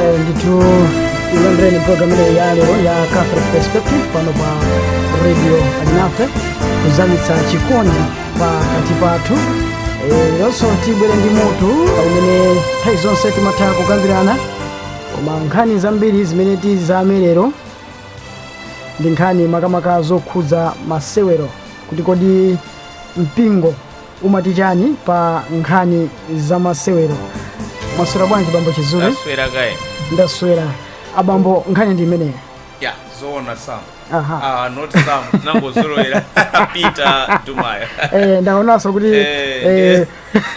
Eh, ndithu ilandireni programu ija ya lero ya catholic perspective pano pa radio alinafe kuzamitsa chikondi pakati pathu Eh, leronso tabwera ndi mutu umene nthawi zonse timatha kukambirana koma nkhani zambiri zimene tizamire lero ndi nkhani makamaka zokhudza masewero kuti kodi mpingo umati chani pa nkhani za masewero mwaswera bwanji bambo chizule taswera kaya ndaswera abambo nkhani ndi imeneyo ya zoona sam Aha. ah, not sam ndinangozolowera peter dumaya eh, ndaonanso kuti Eh, eh, eh.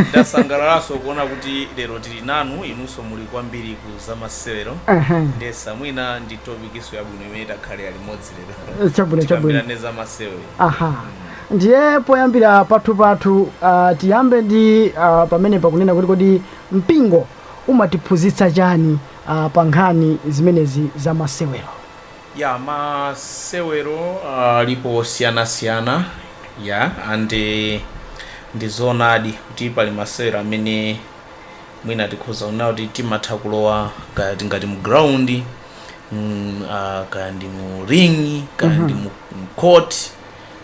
Ndasangalalanso kuona kuti lero tili nanu inunso muli kwambiri ku zamasewero Aha. ndiyesa mwina ndi topikinso yabwino imene takhalira limodzi lero Eh, chabwino, chabwino. tikambirane zamasewero aha ndiye poyambira pathu pathu uh, tiyambe ndi uh, pamene pakunena kuti kodi mpingo umatiphunzitsa chani uh, pa nkhani zimenezi za masewero Yeah ma sewero alipo osiyana siyana yeah and ndizoonadi kuti pali masewero amene mwina tikhoza kunena kuti timatha kulowa kaya tingati mu ground mm, uh, kaya ndi mu ring kaya ndi mu mu court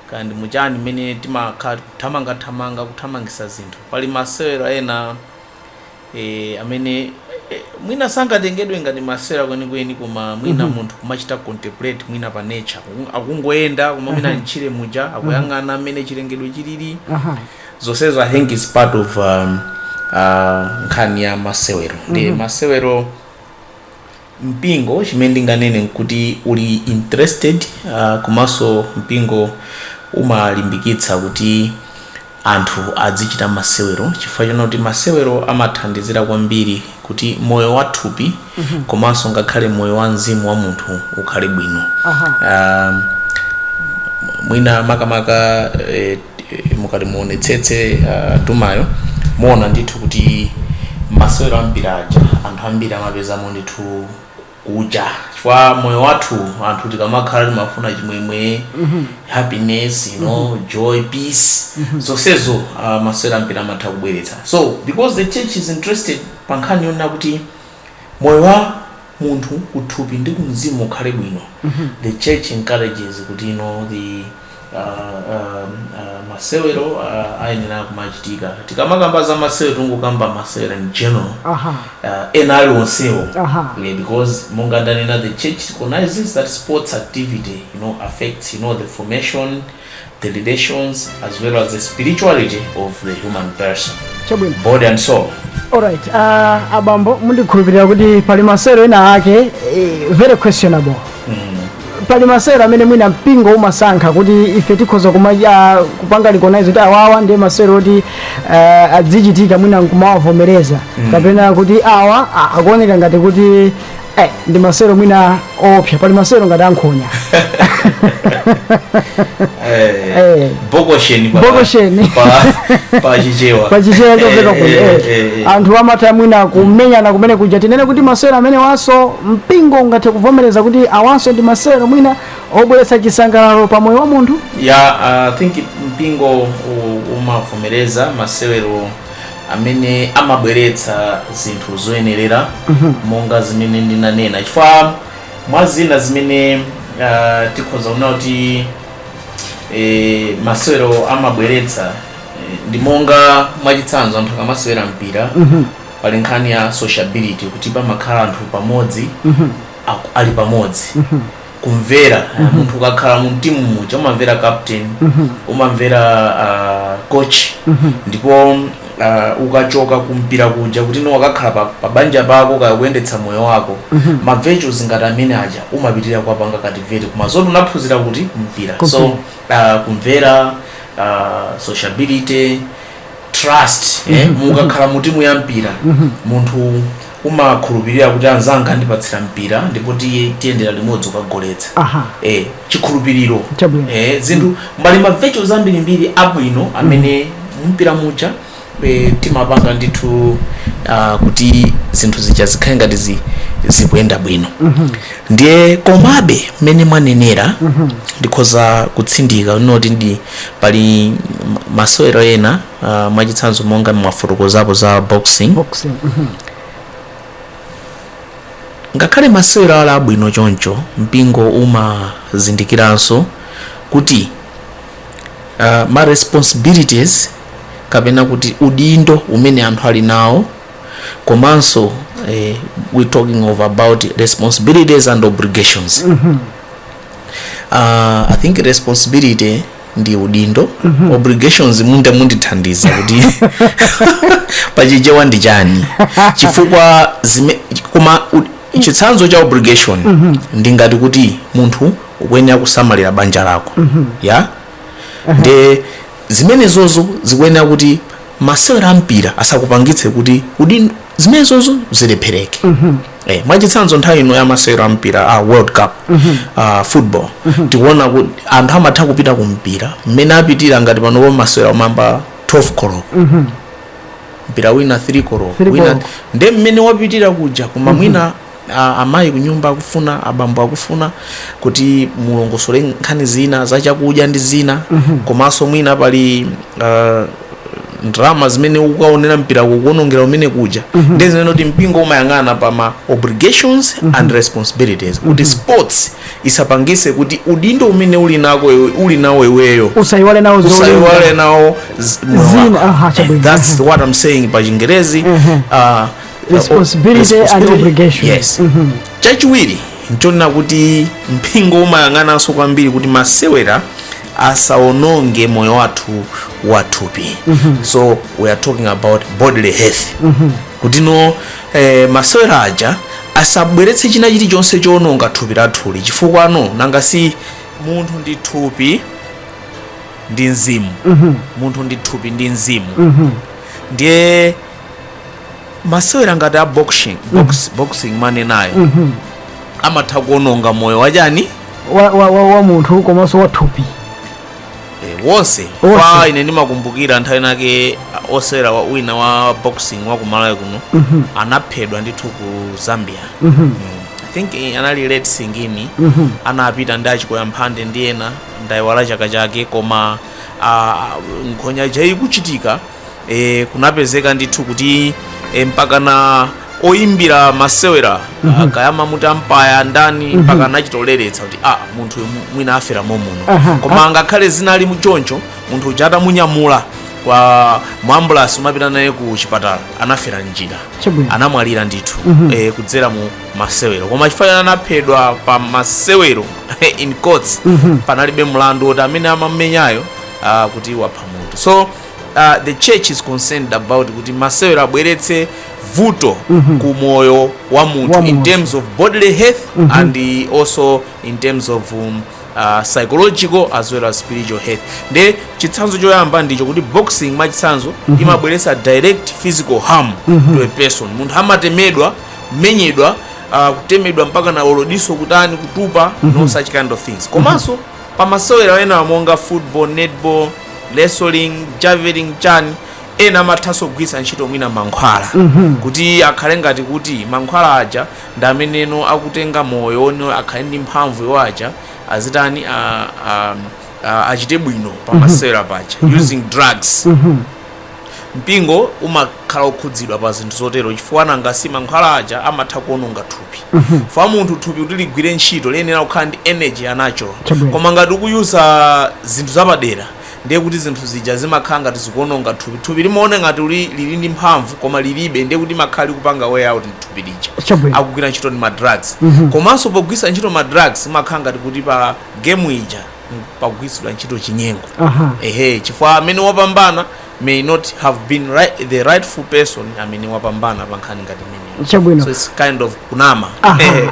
kaya ndi muchani mmene timakhala kuthamanga thamanga kuthamangisa zinthu pali masewero ena eh, amene eh, mwina sangatengedwe ngati masewero kwenikweni koma mwina mm -hmm. munthu kumachita contemplate mwina pa nature akungoyenda koma mwina m'tchire muja akuyang'ana mmene chilengedwe chilili zonsezo i think is part of um, uh, nkhani ya masewero ndi mm -hmm. masewero mpingo chimene ndinganene nkuti uli interested komanso mpingo umalimbikitsa kuti anthu adzichita masewero chifukwa chonena kuti masewero amathandizira kwambiri kuti moyo wa thupi komanso ngakhale moyo wa mzimu wa munthu ukhale bwino Aha. Ah, mwina makamaka eh, mukati muonetsetse uh, timayo muona ndithu kuti masewero ambiri aja anthu ambiri amapezamo ndithu kuja chifukwa moyo wathu anthu tikamakhala timafuna chimwemwe happiness you know joy peace zonsezo uh, masewero ambiri amatha kubweretsa so because the church is interested pa nkhani yonena kuti moyo wa munthu ku thupi ndi ku mzimu ukhale bwino the church encourages kuti you know the uh, um, uh, masewero uh, ayenera kumachitika tikamakamba za masewero tingokamba masewero in general aha uh, ena aliwonsewo Aha. yeah, because monga ndanena the church recognizes that sports activity you know affects you know the formation the relations as well as the spirituality of the human person, chabwino body and soul. alright uh, abambo ndikukhulupirira kuti pali masewero ena ake eh, very questionable pali masewero amene mwina mpingo umasankha kuti ife tikhoza kuma- ah, kupanga recognize kuti awawa ndiye masewero oti ah, adzichitika mwina nkumawavomereza kapena kuti awa ah, akuoneka ngati kuti Eh, ndi masewero mwina oopsa pali masewero ngati ankhonya Eh, Eh. bokosheni pa- Bokosheni. pa- pa chichewa pa chichewa chopeka Eh, kuno eh, eh, eh, eh. anthu amatha mwina kumenyana kumene kuja tinene kuti masewero amenewanso mpingo ungathe kuvomereza kuti awanso ndi masewero mwina obweretsa chisangalalo pa moyo wa munthu ya i think mpingo u- umavomereza masewero amene amabweretsa zinthu zoyenerera monga zimene ndinanena chifukwa mwa zina zimene ah, tikhoza kuona kuti eh, masewero amabweretsa eh, ndi monga mwachitsanzo anthu akamasewera mpira pali nkhani ya sociability kuti pamakhala anthu pamodzi aku- ali pamodzi kumvera mm -hmm. munthu ukakhala mu timu muja umamvera captain mm -hmm. umamvera uh, coach mm -hmm. ndipo uh, ukachoka kumpira kuja kutinso ukakhala pa, pa banja pako kaya kuyendetsa moyo wako mm -hmm. ma virtues ngati amene aja umapitirira kuwapanga cultivate koma zoti unaphunzira kuti kumpira Kumpira. so uh, kumvera uh, sociability trust eh, mukakhala mu timu ya mpira munthu umakhulupirira kuti anzanga andipatsira mpira ndipo tiye tiyendera limodzi kukagoletsa Aha. eh, chikhulupiriro Chabwino. eh, zinthu mbali ma virtues ambirimbiri abwino amene mumpira muja eh, timapanga ndithu ah, kuti zinthu zija zikhale ngati zi- zikuyenda bwino ndiye komabe mmene mwanenera ndikhoza kutsindika zoti inde pali masewero ena Uh, mwachitsanzo monga mwafotokozapo za boxing boxing mm -hmm. ngakhale masewero ali abwino choncho mpingo umazindikiranso kuti uh, ma responsibilities kapena kuti udindo umene anthu ali nawo komanso eh, we talking about responsibilities and obligations mm -hmm. uh, i think responsibility ndi udindo obligations munda- mundithandiza kuti pachichewa ndi chani chifukwa zime, koma u- chitsanzo cha obligation ndi ngati kuti munthu ukuyenera kusamalira banja lako ya nde zimenezozo zikuyenera kuti masewera ampira asakupangitse kuti udindo zimenezozo zilephereke Eh, mwachitsanzo nthawi ino ya masewero a mpira a world cup ah, football tikuona kuti anthu amatha kupita ku mpira mmene apitira ngati panopo masewero amayamba 12 koloko mpira wina 3 koloko wina Three koloko. nde mmene wapitira kuja koma mwina a- amayi kunyumba akufuna abambo akufuna kuti mulongosole nkhani zina zachakudya ndi zina komanso mwina pali ah, ndalama zimene ukukaonera mpira ukuonongera umene kuja mm -hmm. ndi zimene kuti mpingo umayang'ana pa ma obligations mm -hmm. and responsibilities kuti mm -hmm. sports isapangise kuti udindo umene uli nako uli nawo iweyo usaiwale nawo usaiwale nawo zina aha chabwino that's what i'm saying pa chingerezi mm -hmm. uh, responsibility, responsibility and obligation yes mm -hmm. chachiwiri nchonena kuti mpingo umayang'ananso kwambiri kuti masewera asaononge moyo wathu wa thupi so we are talking about bodily health kuti no eh, masewero aja asabweretse china chilichonse choononga thupi lathuli chifukwa no nanga si munthu ndi thupi ndi mzimu munthu ndi thupi ndi mzimu ndiye masewera ngati a boxing box, boxing mwanenayo amatha kuononga moyo wachani wa, wa, wa, wa munthu komanso wa thupi Eh, wonse Wonse. kaya ine ndimakumbukira nthawi nake ah, osewera wa- wina wa boxing wa kumalawi kuno anaphedwa ndithu ku zambia Mm. i think eh, anali late singini anapita ndi achikoya mphande ndi ena ndayiwala chaka chake koma ah, nkhonya ija ikuchitika e, kunapezeka ndithu kuti e, mpakana oyimbira masewero mm -hmm. kaya mumati ampaya ndani mm -hmm. mpaka anachitoleretsa kuti ah, munthu uyu mwina afera momuno uh -huh. koma angakhale zinali choncho munthu uja atamunyamula kwa mu ambulasi kumapita naye ku chipatala anafera m'njira Chabwino. anamwalira ndithu mm -hmm. e, kudzera mu masewero koma chifukwa chani anaphedwa pa masewero in quotes mm -hmm. panalibe mlandu woti amene amamenyayo uh, kuti wapha munthu so uh, the church is concerned about kuti masewero asabweretse vuto mm -hmm. ku moyo wa munthu in terms of bodily health mm -hmm. and also in terms of um, uh, psychological as well as spiritual health nde chitsanzo choyamba ndicho kuti boxing mwachitsanzo mm -hmm. imabweretsa direct physical harm mm -hmm. to a person munthu amatemedwa menyedwa uh, kutemedwa mpakana olodiso kutani kutupa mm -hmm. no mhm. such kind of things komanso mm -hmm. Pa masewera ena monga football, netball, wrestling, javelin chani ena amathanso kugwiritsa ntchito mwina mankhwala kuti akhale ngati kuti mankhwala aja ndi ameneno akutenga moyo uno akhale ndi mphamvu iwo aja azitani a- a- a- achite bwino pa masewera paja using drugs Mpingo umakhala okhudzidwa pa zinthu zotero chifukwa nanga si mankhwala aja amatha kuononga thupi. Chifukwa munthu thupi kuti ligwire ntchito liyenera kukhala ndi energy ya natural. Chabwino. Koma ngati ukuyuza zinthu zapadera ndiye kuti zinthu zija zimakhala ngati zikuononga thupi. Thupi limaona ngati kuti lili ndi mphamvu koma lilibe ndiye kuti limakhala likupanga wear out thupi lija. Chabwino. Akugwira ntchito ndi ma drugs. Komanso pogwiritsa ntchito ma drugs zimakhala ngati kuti pa game ija. m- pakugwiritsidwa ntchito chinyengo Aha. ehe chifukwa amene wapambana may not have been right, the rightful person amene wapambana pa nkhani ngati imeneyo Chabwino. so it's kind of kunama Aha. Eh,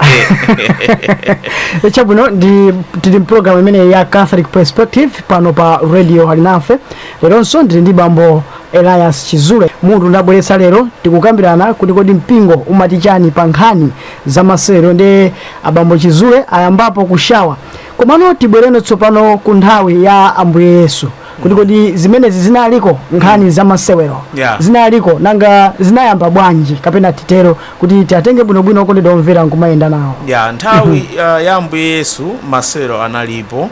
eh. chabwino ndi tili mpulogalamu imene ya catholic perspective pano pa radio alinafe leronso ndili ndi bambo elias chizule mutu ndabweretsa lero tikukambirana kuti kodi mpingo umati chani pa nkhani za masewero ndi abambo chizule ayambapo ku share Komano tibwereno tsopano ku nthawi ya Ambuye Yesu kuti kodi zimenezi zinaliko nkhani za masewero Yeah. zinaliko nanga zinayamba bwanji kapena titero kuti tiatenge bwinobwino okondedwa omvera nkumayenda nawo ya nthawi uh, ya ambuye yesu masewero analipo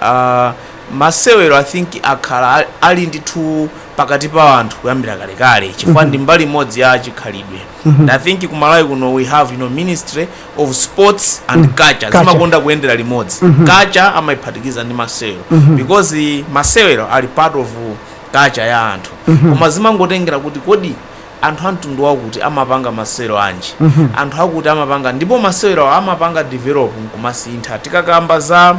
uh, masewero i think akhala ali ndithu pakati pa anthu kuyambira kalekale chifukwa ndi mbali imodzi ya chikhalidwe and i think kumalawi kuno we have you know, ministry of sports and mm. culture, culture zimakonda kuyendera limodzi mm -hmm. culture amaiphatikiza ndi masewero mm -hmm. because masewero ali part of culture ya anthu mm -hmm. koma zimangotengera kuti kodi anthu amtundu wakuti amapanga masewero anji mm -hmm. anthu akuti amapanga ndipo masewero amapanga develop nkumasintha tikakamba za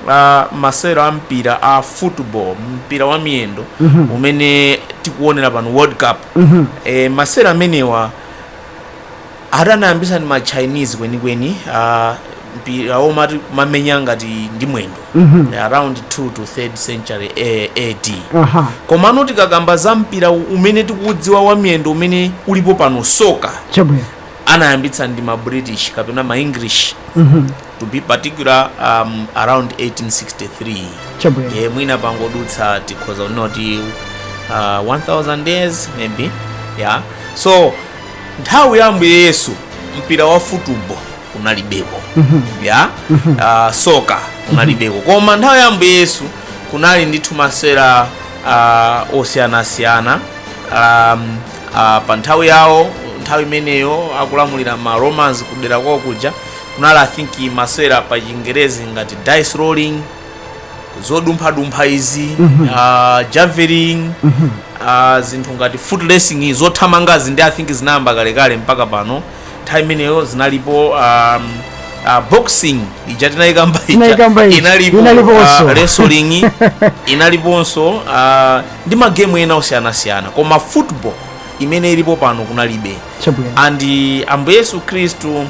uh, masewero a mpira a football mpira wa miyendo mm -hmm. umene tikuonera pano world cup mm -hmm. e, masewero amenewa Ati anayambitsa ndi ma Chinese kwenikweni a mpira womati kumamenya ngati ndi mwendo around 2 to 3rd century A- AD. Aha. Komano tikakamba za mpira u- umene tikuudziwa wa miyendo umene ulipo pano soccer Chabwino. anayambitsa ndi ma British kapena ma English to be particular um, around 1863 Chabwino. ndiye mwina pangodutsa tikhoza kunena kuti uh, 1000 years maybe yeah so nthawi ya ambuye yesu mpira wa futubo kunalibeko ya ah, soccer kunalibeko koma nthawi ya ambuye yesu kunali ndithu masewera ah, osiyanasiyana um, ah, pa nthawi yawo nthawi imeneyo akulamulira ma romans kudera kwawo kuja kunali i think masewera pa chingerezi ngati dice rolling zodumphadumpha izi ah, javelin ah, zinthu ngati foot racing zothamangazi ndi i think zinayamba kalekale mpaka pano nthawi imeneyo zinalipo um, ah, boxing ija tinayikamba inalipo ah, wrestling inaliponso ah, ndi magemu ena osiyanasiyana koma football imene ilipo pano kunalibe and ambuye yesu khristu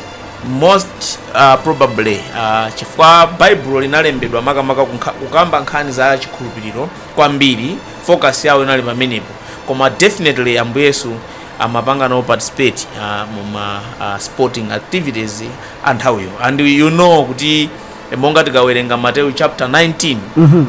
most uh, probably uh, chifukwa baibulo linalembedwa makamaka kukamba nkhani za chikhulupiriro kwambiri focus yawo inali pamenepo koma definitely ambuye yesu amapanga nawo participate uh, muma uh, sporting activities a nthawiyo and you know kuti eh, monga tikawerenga mateyu chapter 19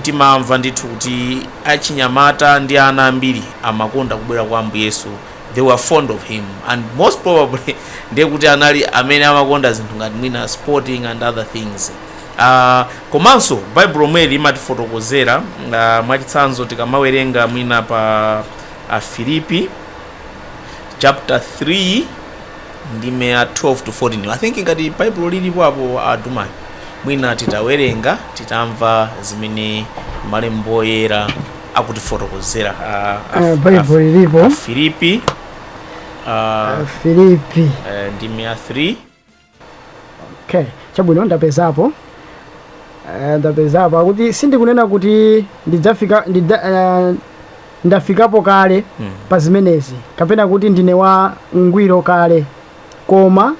timamva ndithu kuti achinyamata ndi ana ambiri amakonda kubwera kwa ambuye yesu they were fond of him and most probably ndiye kuti anali amene amakonda zinthu ngati mwina sporting and other things uh, komanso baibulo Mweli imatifotokozera uh, mwachitsanzo tikamawerenga mwina pa afilipi chapter 3 ndime ya 12 to 14 i think ngati baibulo lilipo apo a Dumayo mwina titawerenga titamva zimene malembo oyera akutifotokozera a- a- Eh, Bible lilipo. a- Filipi a, filipi eh, ndime ya 3 okay chabwino ndapezapo Eh, ndapezapo akuti sindikunena kuti ndidzafika ndidza, eh, ndafikapo kale Mm. pa zimenezi kapena kuti ndine wa ngwiro kale koma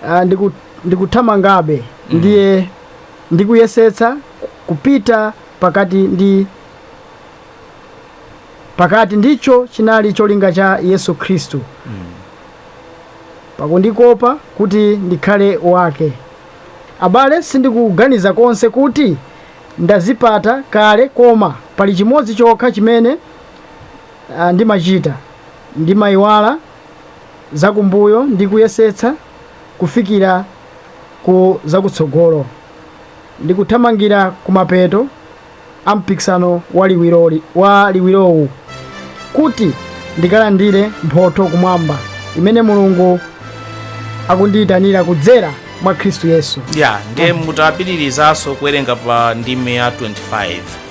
eh, ndiku- ndikuthamangabe ndiye ndikuyesetsa kupita pakuti ndicho chinali cholinga cha yesu khristu pakundikopa kuti ndikhale wake abale sindikuganiza konse kuti ndazipata kale koma pali chimodzi chokha chimene ah, ndimachita ndimayiwala zakumbuyo ndi kuyesetsa kufikira ku zakutsogolo ndikuthamangira kumapeto a mpikisano wa liwirowu kuti ndikalandire mphotho kumwamba imene mulungu akundiyitanira kudzera mwa khristu yesu ya ndiye mutapitirizaso kuwerenga pa ndime ya 25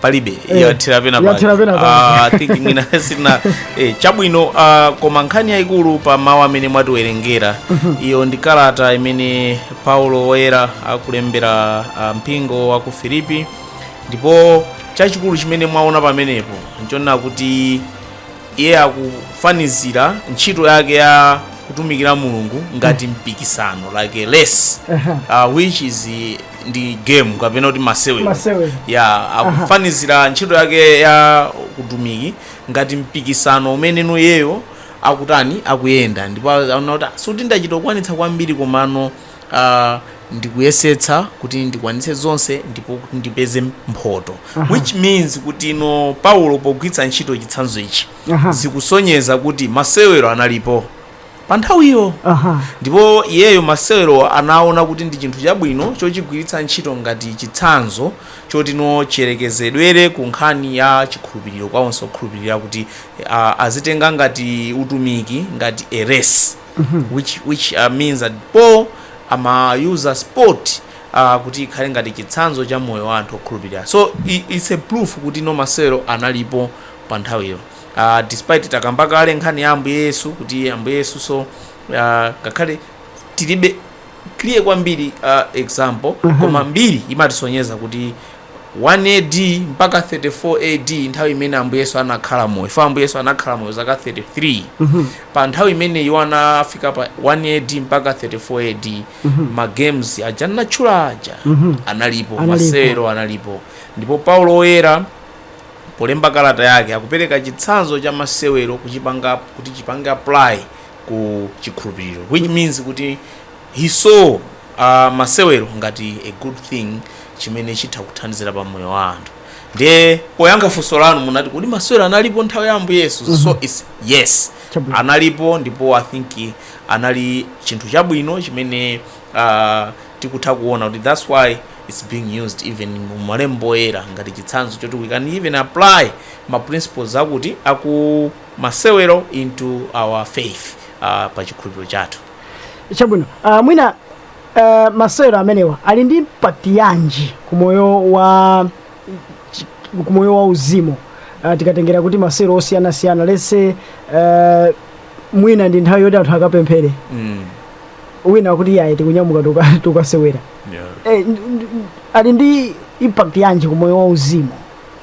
palibe Eh, yathera pena yathera pake. pena pake. Ah, I think mwina sina eh, chabwino ah, koma nkhani yayikulu pa mawu amene mwatiwerengera iyo ndi kalata imene paulo woyera akulembera ah, mpingo wa ku filipi ndipo chachikulu chimene mwaona pamenepo nchonena kuti iye akufanizira ntchito yake ya kutumikira mulungu ngati mpikisano like a race Aha. uh, which is ndi game kapena kuti masewero Masewero. ya akufanizira ntchito yake ya kutumiki ngati mpikisano umene iyeyo akutani akuyenda ndipo aona kuti "Ah, sikuti ndachita kukwanitsa kwambiri komano ah, ndikuyesetsa kuti ndikwanitse zonse ndipo kuti ndipeze mphoto which means kuti no paulo pogwiritsa ntchito chitsanzo ichi Aha. zikusonyeza kuti masewero analipo pa nthawi iyo Aha. ndipo iyeyo masewerowa anaona kuti ndi chinthu chabwino chochigwiritsa ntchito ngati chitsanzo choti no chiyerekezedwere ku nkhani ya chikhulupiriro kwa onse okhulupirira kuti ah, azitenga ngati utumiki ngati a race which, which uh, means that paul ama-use sport uh, kuti ikhale ngati chitsanzo cha moyo wa anthu okhulupirira so i- it's a proof kuti no masewero analipo pa nthawiyo uh, despite takamba kale nkhani ya ambuye yesu kuti ambuye yesunso uh, ngakhale tilibe clear kwambiri uh, example koma mbiri imatisonyeza kuti 1 ad mpaka 34 ad nthawi imene ambuye yesu anakhala moyo for ambuye yesu anakhala moyo zaka 33 pa nthawi imene iwo anafika pa 1 ad mpaka 34 ad ma games aja ndatchula aja analipo Analipo. masewero analipo ndipo paulo woyera Polemba kalata yake, akupereka chitsanzo cha masewero kuti chipange apply ku chikhulupiriro which means kuti he saw uh, masewero ngati a good thing chimene chitha kuthandizira pa moyo wa anthu ndiye poyankha funso lanu munati kodi masewero analipo nthawi ya ambuye yesu mm -hmm. so mhm. it's yes Chabwino. analipo ndipo i think anali chinthu chabwino chimene uh, tikutha kuona kuti that's why its being used even mu malembo oyera ngati chitsanzo choti we can even apply ma principles akuti aku masewero into our faith uh, pa chikhulupiriro chathu chabwino uh, mwina uh, masewero amenewa ali ndi impact yanji ku moyo wa chi- ku moyo wa uzimu uh, tikatengera kuti masewero osiyanasiyana let's say uh, mwina ndi nthawi yoti anthu akapemphere Mm. ena akuti yayi tikunyamuka tuka- tukasewera Yeah. Eh, n- n- n- ali ndi impact yanji ku moyo wa uzimu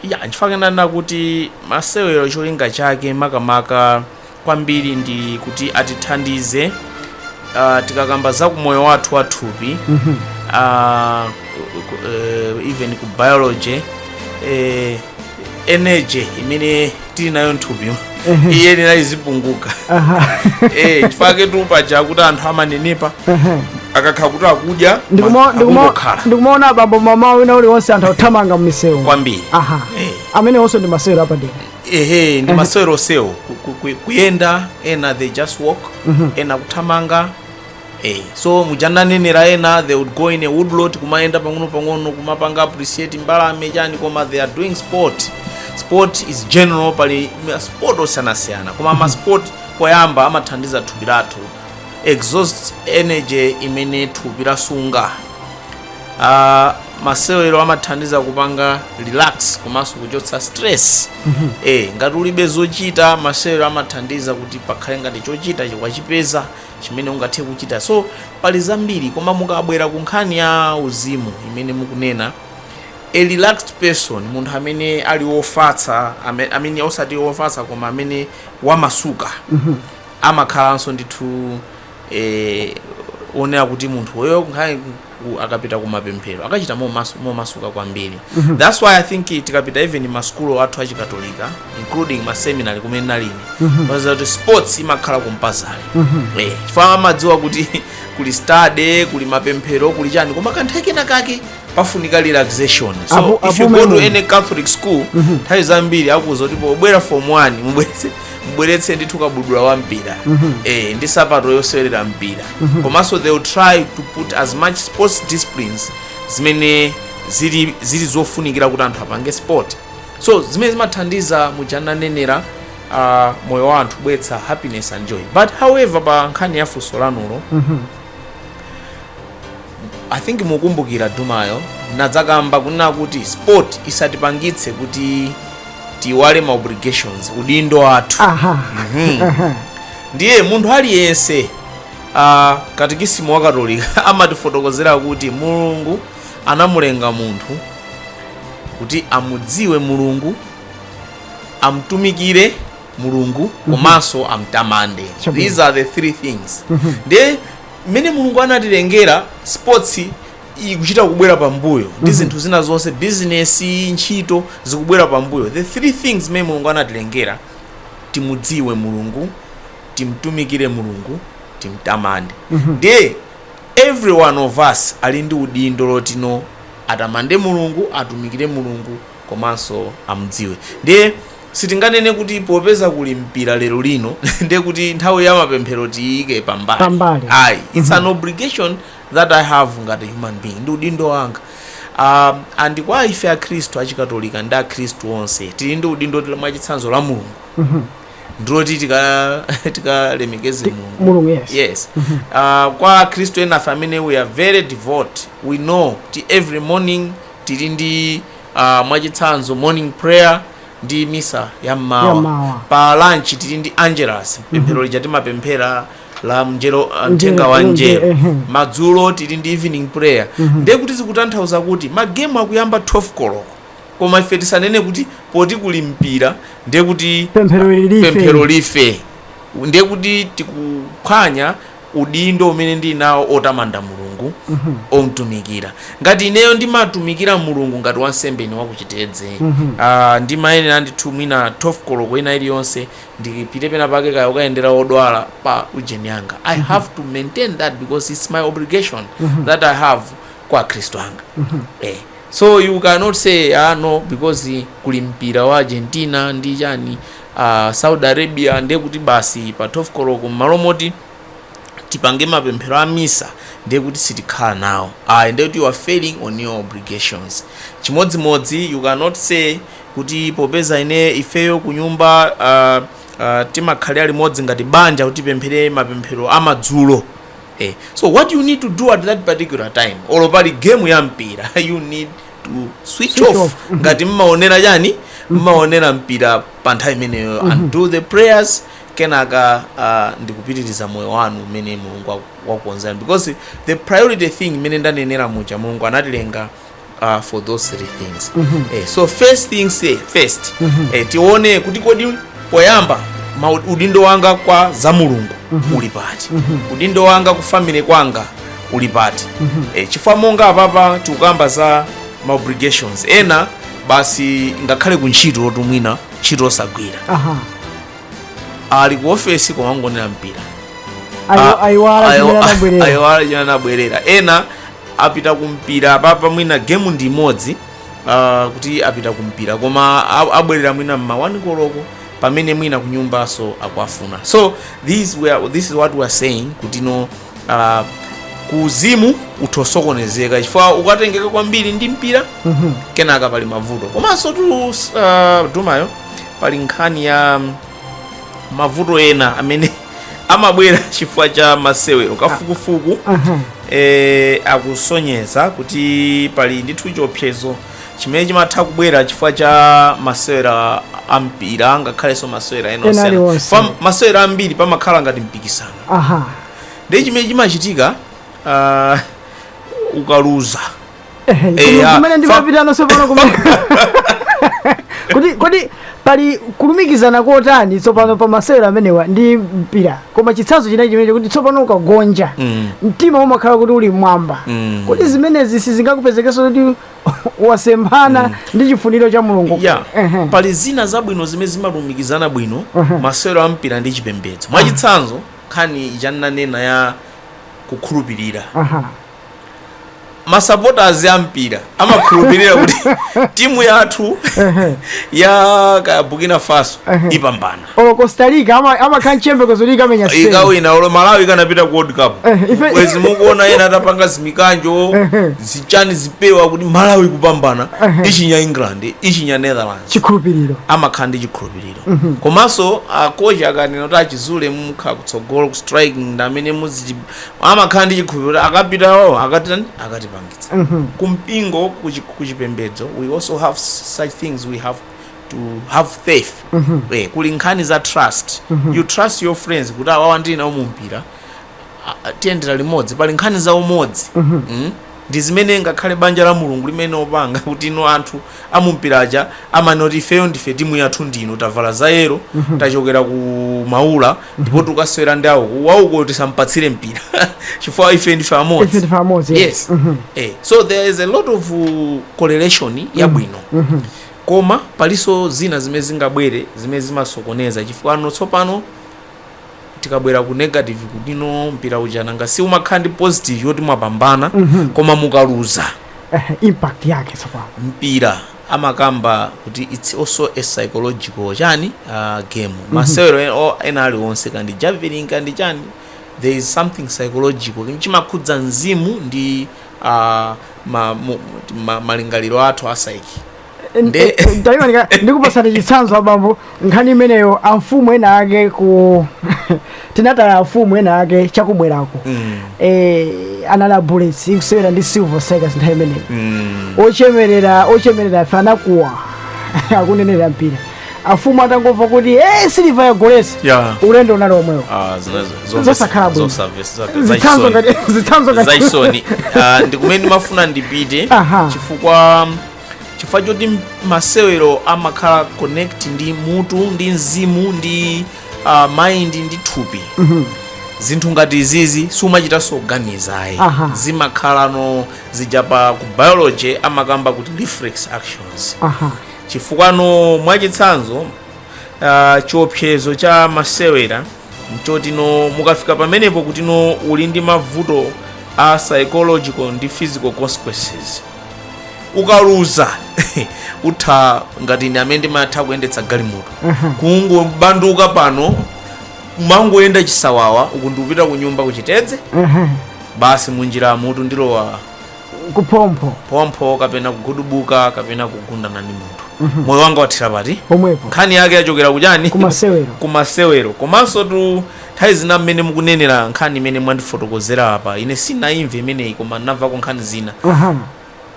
ya nchifukwa ndanena kuti masewero cholinga chake makamaka kwambiri ndi kuti atithandize uh, tikakamba za kumoyo wathu wathupi uh, even ku biology eh, energy imene tili nayo mthupi iyenera izipunguka Aha. eh nchifukwa chaketu paja kuti anthu amanenepa Aha. akakhala kuti akudya Ndikuma- ndikuma- akungokhala ndikumaona abambo mama wina aliyense anthu akuthamanga mmisewu kwambiri aha Eh. amenewonso ndi masewero apadera ehe ndi maseweronso awo Ku- ku- ku- kuyenda ena they just walk ena kuthamanga Hey, eh, so muja ndinanenera ena they would go in a woodlot kumayenda pang'ono pang'ono kumapanga appreciate mbalame chani koma they are doing sport sport is general pali sport osiyanasiyana koma ma sport poyamba amathandiza thupi lathu ku-exhaust energy imene thupi lasunga uh, masewero amathandiza kupanga relax komanso kuchotsa stress mm-hmm. e, ngati ulibe zochita masewero amathandiza kuti pakhale ngati chochita chikwachipeza chimene ungathe kuchita so pali zambiri koma mukabwera ku nkhani ya uzimu imene mukunena a relaxed person munthu amene ali wofatsa ame- amene osati wofatsa koma amene wamasuka amakhalanso ndithu eh, oonekera kuti munthu oyo nkhani ku akapita kumapemphero akachita momasu, momasuka kwambiri thats why i think tikapita even masukulu athu achikatolika including ma seminary kumene ndinali ine mupeza kuti sports imakhala compulsory eh chifukwa amadziwa kuti kuli study kuli mapemphero kuli chani koma kanthawi kena kake pafunika relaxation so if you go to any catholic school nthawi zambiri akuuza kuti pobwera form 1 mubweze mubweretse ndithu kabudula wa mpira eh, ndi sapato yosewerera mpira komanso they will try to put as much sports disciplines zimene zili, zili zofunikira kuti anthu apange sport so zimene zimathandiza muja ndinanenera uh, moyo wa anthu kubweretsa happiness and joy but however pa nkhani ya funso lanulo i think mukumbukira kumayo ndinadzakamba kunena kuti sport isatipangitse kuti tiiwale ma obligations udindo wathu aha Mhm. ndiye munthu aliyense uh, katikisimu wa katolika amatifotokozera kuti mulungu anamulenga munthu kuti amudziwe mulungu amtumikire mulungu mhm. komanso amtamande these are the three things mhm. nde zimene mulungu anatilengera sports ikuchita kubwera pambuyo ndi mhm. zinthu zina zonse bizinesi ntchito zikubwera pambuyo the three things zimene mulungu anatilengera timudziwe mulungu timtumikire mulungu timtamande nde every one of us ali ndi udindo wotino atamande mulungu atumikire mulungu komanso amudziwe. Ndiye sitinganene kuti popeza kuli mpira lero lino ndiye kuti nthawi ya mapemphero tiyiike pambali. Pambali. Ayi, it's an obligation that I have ngati human being. Ndi udindo wanga. Um, and kwa ife akhristu achikatolika ndi akhristu onse tili ndi udindo tila- mwachitsanzo lamulungu ndiloti tika- tikalemekeze mulungu mulungu yes yes uh, kwa akhristu enafe amene we are very devout we know kuti every morning Tili ndi uh, mwachitsanzo morning prayer ndi misa ya mmawa. pa lunch tili ndi angelus pemphero lija timapemphera la mnjero uh, mthenga wa Mnjero, njero ehe. madzulo tili ndi evening prayer ndiye kuti zikutanthauza kuti magemu akuyamba 12 koloko koma ife tisanene kuti poti kuli mpira ndiye kuti pemphero life ndiye kuti tikuphwanya udindo umene ndili nawo otamanda Mulungu, omtumikira. Ngati ineyo ndimatumikira Mulungu ngati wansembe ine wa ku Chitedze, aah, ndimayenera ndithu mwina 12 koloko ina iliyonse ndipite pena pake kaya ukayendera odwala pa ujeni yanga. I have to maintain that because it's my obligation that I have kwa akhristu anga. Eh, so you cannot say, ah, no, because kuli mpira wa Argentina ndi chani, Saudi Arabia ndiye kuti basi pa 12 koloko m'malo moti tipange mapemphero a misa ndiye kuti sitikhala nawo ndiye kuti you are failing on your obligations chimodzimodzi you cannot say kuti popeza ine ifeyo ku nyumba uh, uh, timakhala limodzi ngati banja kuti tipemphere mapemphero amadzulo eh. so what you need to do at that particular time olo pali game ya mpira you need to switch off. Mhm. ngati mmaonera chani mmaonera mpira pa nthawi imeneyo and do the prayers kenaka uh, ndikupitiriza moyo wanu umene mulungu waku- wakukonzerani because the priority thing imene ndanenera muja mulungu anatilenga uh, for those three things eh, so first things eh, first eh, tione kuti kodi poyamba udindo wanga kwa za mulungu uli pati udindo wanga ku family kwanga uli pati e, chifukwa monga apapa tikukamba za ma obligations ena basi ngakhale ku ntchito oti mwina ntchito osagwira aha ali ku ofesi koma angoonera mpira Ayo- ayiwala chimene anabwerera ayiwala chimene anabwerera ena apita kumpira apapa mwina gemu ndi imodzi ah, kuti apita kumpira koma a- abwerera mwina mma 1 koloko pamene mwina kunyumbaso akuwafuna so this, we are, this is what we are saying kuti no ah, ku uzimu utha kusokonezeka chifukwa ukatengeka kwambiri ndi mpira kenaka pali mavuto komanso tu ah, Dumayo pali nkhani ya mm, mavuto ena amene amabwera chifukwa cha masewero kafukufuku eh, akusonyeza kuti pali ndithu chiopsezo chimene chimatha kubwera chifukwa cha masewero ampira ngakhalenso masewera ena Ena osiyana. aliwonse. Pa masewera ambiri pamakhala ngati mpikisano aha ndiye chimene chimachitika ah, ukaluza Ehe, Eh, inu ah, kumene fa- ndimapita tsopano kumene kodi kodi pali kulumikizana kotani tsopano pa masewero amenewa ndi mpira koma chitsanzo chinachi chimene kuti tsopano ukagonja Mm. mtima umakhala kuti uli mmwamba Mm. kodi zimenezi sizingakupezetsenso kuti wasemphana ndi chifuniro cha mulungu ya Ehe. pali zina zabwino zimene zimalumikizana bwino masewero a mpira ndi chipembedzo mwachitsanzo nkhani ija nanena ya kukhulupirira Aha. masupporters a mpira amakhulupirira kuti timu yathu ya kaya burkina faso ipambana olo costa rica ama- amakhala mchiyembekezo kuti ikamenya spain ikawina olo malawi ikanapita ku world cup Eh, ife- bwezi mukuona ena atapanga zimikanjo zichani zipewa kuti malawi kupambana ichinya england ichinya netherlands chikhulupiriro amakhala ndi chikhulupiriro komanso akocha akanena kuti achizule mukha kutsogolo ku striking ndi amene muzi amakhala ndi chikhulupiriro akapita wawo akatani akatipangitsa kumpingo kuchi- kuchipembedzo we also have such things we have to have faith eh, kuli nkhani za trust you trust your friends kuti awawa ndili nawo mu mpira a- a- tiyendera limodzi pali nkhani za umodzi Mm? ndi zimene ngakhale banja la mulungu limene opanga kuti ino anthu amumpira aja amanoti ifeyo ndife timu yathu ndino tavala za yero tachokera ku maula ndipo tikasewera ndi awuko awuko tisampatsire mpira chifukwa ife ndife amodzi ife ndife amodzi yes eh, so there is a lot of uh, correlation yabwino Koma palinso zina zimene zingabwere zimene zimasokoneza chifukwano tsopano tikabwera ku negative kuti no mpira uja nanga si umakhala ndi positive yoti mwapambana mm -hmm. koma mukaluza eh, impact yake tsopano mpira amakamba kuti it's also a psychological chani uh, game mm -hmm. masewero e, ena aliwonse kaya ndi javelin kaya ndi chani there is something psychological chimakhudza mzimu ndi ah, ma, mu, ma, malingaliro athu psyche Nde- ndaimanika ndikupasani chitsanzo abambo nkhani imeneyo amfumu ena ake kuti nataya amfumu ena ake chakubwerako mm, eh, anali a bullets ikusewera ndi silver strikers nthawi imeneyo mm. ochemerera ochemerera afana kuwa akunenera mpira amfumu atangomva kuti e silver yagoletsa Yeah. ulendo unali omwewo Ah, zina- zomwe- Zosakhala bwino. zosamvesa- za- zitsanzo zachisoni. ngati zitsanzo ngati- zachisoni Ah, ndi kumene ndimafuna ndipite Aha. chifukwa chifukwa choti m- masewero amakhala connect ndi mutu ndi mzimu ndi ah, mind ndi thupi zinthu ngati izizi siumachitanso kuganiza ayi Aha. zimakhalano zija pa ku biology amakamba kuti reflex actions aha chifukwano mwachitsanzo uh, chiopsezo cha masewera nchoti no mukafika pamenepo kuti no uli ndi mavuto a psychological ndi physical consequences ukaluza utha ngati ndi amene ndimatha kuyendetsa galimoto kungobanduka pano mangoyenda chisawawa uku ndikupita ku nyumba kuchitedze basi munjira mutu ndi lorry kuphompho phompho kapena kugudubuka kapena kugundana ndi munthu moyo wanga wathera pati pomwepo nkhani yake yachokera kutchani kumasewero kumasewero komanso tu nthawi zina mmene mukunenera nkhani imene mwandifotokozera apa ine sindinayimve imeneyi koma ndinamvako nkhani zina aha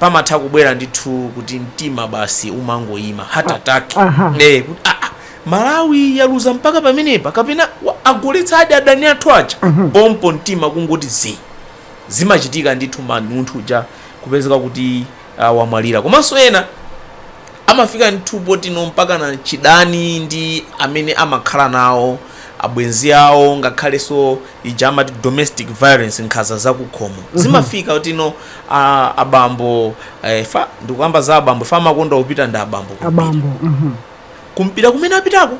pamatha kubwera ndithu kuti mtima basi umangoyima heart attack aha. eh kuti ah, ah, malawi yaluza mpaka pamenepa kapena wa- agoletsadi adani athu aja pompo mtima kungoti zi zimachitika ndithu man munthu uja kupezeka kuti uh, wamwalira komanso ena amafika ndithu potino mpakana chidani ndi amene amakhala nawo abwenzi awo ngakhalenso ija amati domestic violence nkhaza zakukhomo zimafika kutino a- abambo eh, pa ndikukamba za abambo pa amakonda kupita ndi abambo kumpira. abambo mhm. kumpira kumene apitako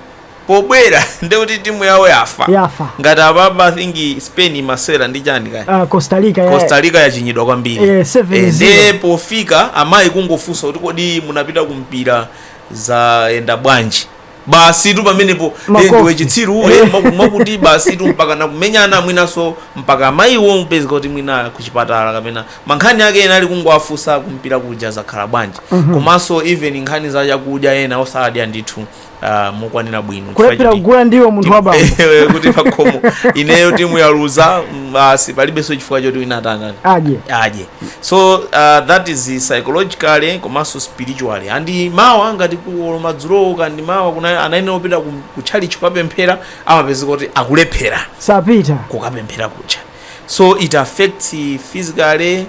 pobwera ndekuti timu yawo yafa yafa ngati apapa I think spain imasewera ndi chani kaya uh, costa rica ya- costa rica yachinyidwa kwambiri Eh, seven Eh, zero. ndiye pofika amayi kungofunsa kuti kodi munapita kumpira zayenda bwanji basi tu pamenepo eh, Makofi. ndiwe chitsiru ule Eh. maku- makuti basi tu mpaka nakumenyana mwinaso mpaka amayiwo kupezeka kuti mwina kuchipatala kapena mankhani ake ena ali kungowafunsa kumpira kuja zakhala bwanji komanso even nkhani za chakudya ena osadya ndithu uh, mokwanira bwino kulephera kugula ndiwo munthu wa bambo kuti pakhomo ineyo timu yaluza mm, basi palibenso chifukwa choti wina atangani adye adye so uh, that is psychologically komanso spiritually and mawa ngati kuolo madzulowo kandi mawa kuna anayenera kupita ku- ku church kukapemphera amapezeka kuti akulephera sapita kukapemphera ku church so it affects physically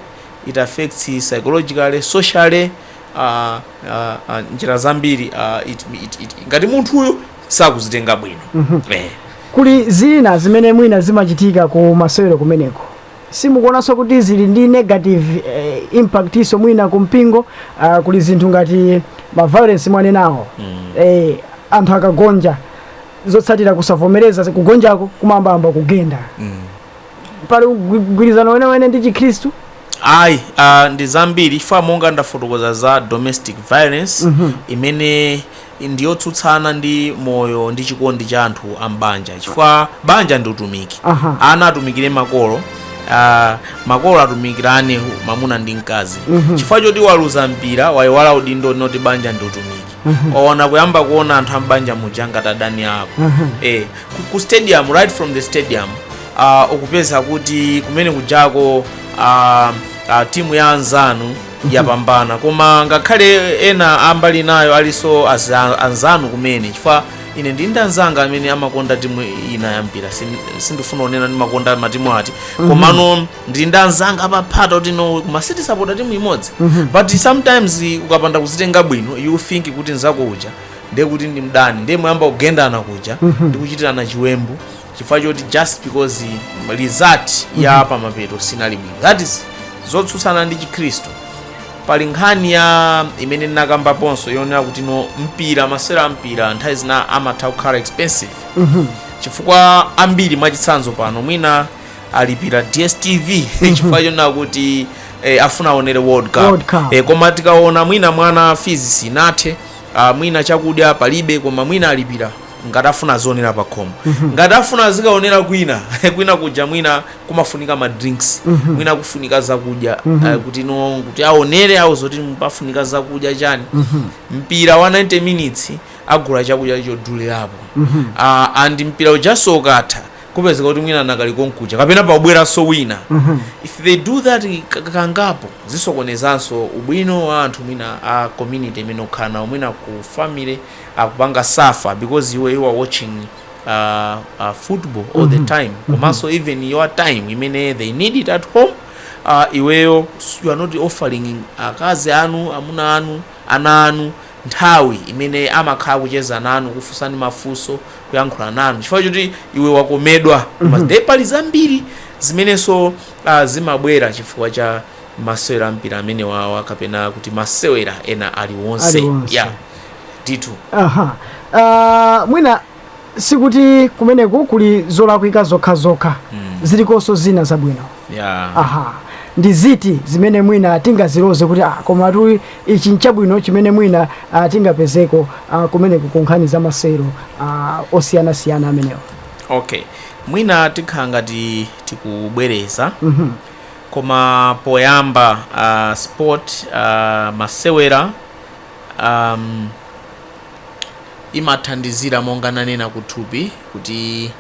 it affects psychologically socially uh, uh, uh, njira zambiri uh, it, it, it, ngati munthuyo sakuzitenga bwino mm -hmm. eh. kuli zina zimene mwina zimachitika ku masewero kumeneko simukuonanso kuti zili ndi negative eh, impact-nso mwina ku mpingo uh, kuli zinthu ngati maviolence mwanenawo mm. eh, anthu akagonja zotsatira kusavomereza kugonjako kumayambamba kugenda mm. pali mgwi- mgwirizano wenewene ndi chikhristu ayi uh, ndi zambiri chifukwa monga ndafotokoza za domestic violence Mhm. imene ndiyotsutsana ndi moyo ndi chikondi cha anthu a m'banja chifukwa banja ndi utumiki Aha. ana atumikire makolo uh, makolo atumikirane mamuna ndi mkazi Mhm. chifukwa choti waluza mpira wayiwala udindo woti banja ndi utumiki waona kuyamba kuona anthu a m'banja muja ngati adani ako Mhm. eh, ku- ku stadium right from the stadium uh, ukupeza kuti kumene kujako uh, uh, timu ya anzanu yapambana koma ngakhale ena ambali nayo alinso aza- anzanu kumene chifukwa ine ndili ndi anzanga amene amakonda timu ina ya mpira Sin- sindifuna kunena ndimakonda matimu ati komano ndili ndi anzanga apaphata kuti no koma sitisapota timu imodzi but sometimes ukapanda kuzitenga bwino you think kuti nzako uja ndiye kuti ndi mdani ndiye muyamba kugendana kuja ndi kuchitirana chiwembu chifukwa choti just because result ya pamapeto sinali bwino that is zotsutsana ndi chikhristu pali nkhani ya imene ndinakambaponso yonena kuti no mpira masewero a mpira nthawi zina amatha kukhala expensive chifukwa ambiri mwachitsanzo pano mwina alipira dstv chifukwa chonena kuti eh, afuna aonere world cup, World Cup. Eh, koma tikaona mwina mwana fees sinathe ah, mwina chakudya palibe koma mwina alipira ngati afuna azionera pa khomo ngati afuna azikaonera kwina kwina kuja mwina kumafunika ma drinks mwina kufunika zakudya ah, kuti no kuti aonere awo zoti pafunika zakudya chani mpira wa 90 minutes agula chakudya chodulirapo Ah, and mpira ujanso ukatha kupezeka kuti mwina anakali konkuja kapena pakubweranso wina if they do that ka- kangapo zisokonezanso ubwino wa anthu mwina a community imene ukhala nawo mwina ku family akupanga suffer because iwe you are watching uh, uh, football all the time komanso even your time imene they need it at home uh, iweyo you are not offering akazi anu amuna anu ana anu nthawi imene amakhala kucheza nanu kufunsani mafunso kuyankhula nanu chifukwa choti iwe wakomedwa nde pali zambiri zimenenso ah, zimabwera chifukwa cha masewera ampira amenewawa kapena kuti masewera ena aliwonse Aliwonse. ya ndithu aha Ah, mwina sikuti kumeneku kuli zolakwika zokhazokha mm. zilikonso zina zabwino yeah. aha ndi ziti zimene mwina tingaziloze kuti ah, komatu ichi nchabwino chimene mwina ah, tingapezeko ah, kumeneku ku nkhani za masewero ah, osiyanasiyana amenewa okay mwina tikhala ngati tikubwereza Mhm. koma poyamba uh, sport uh, masewera um, imathandizira monga nanena kuthupi kuti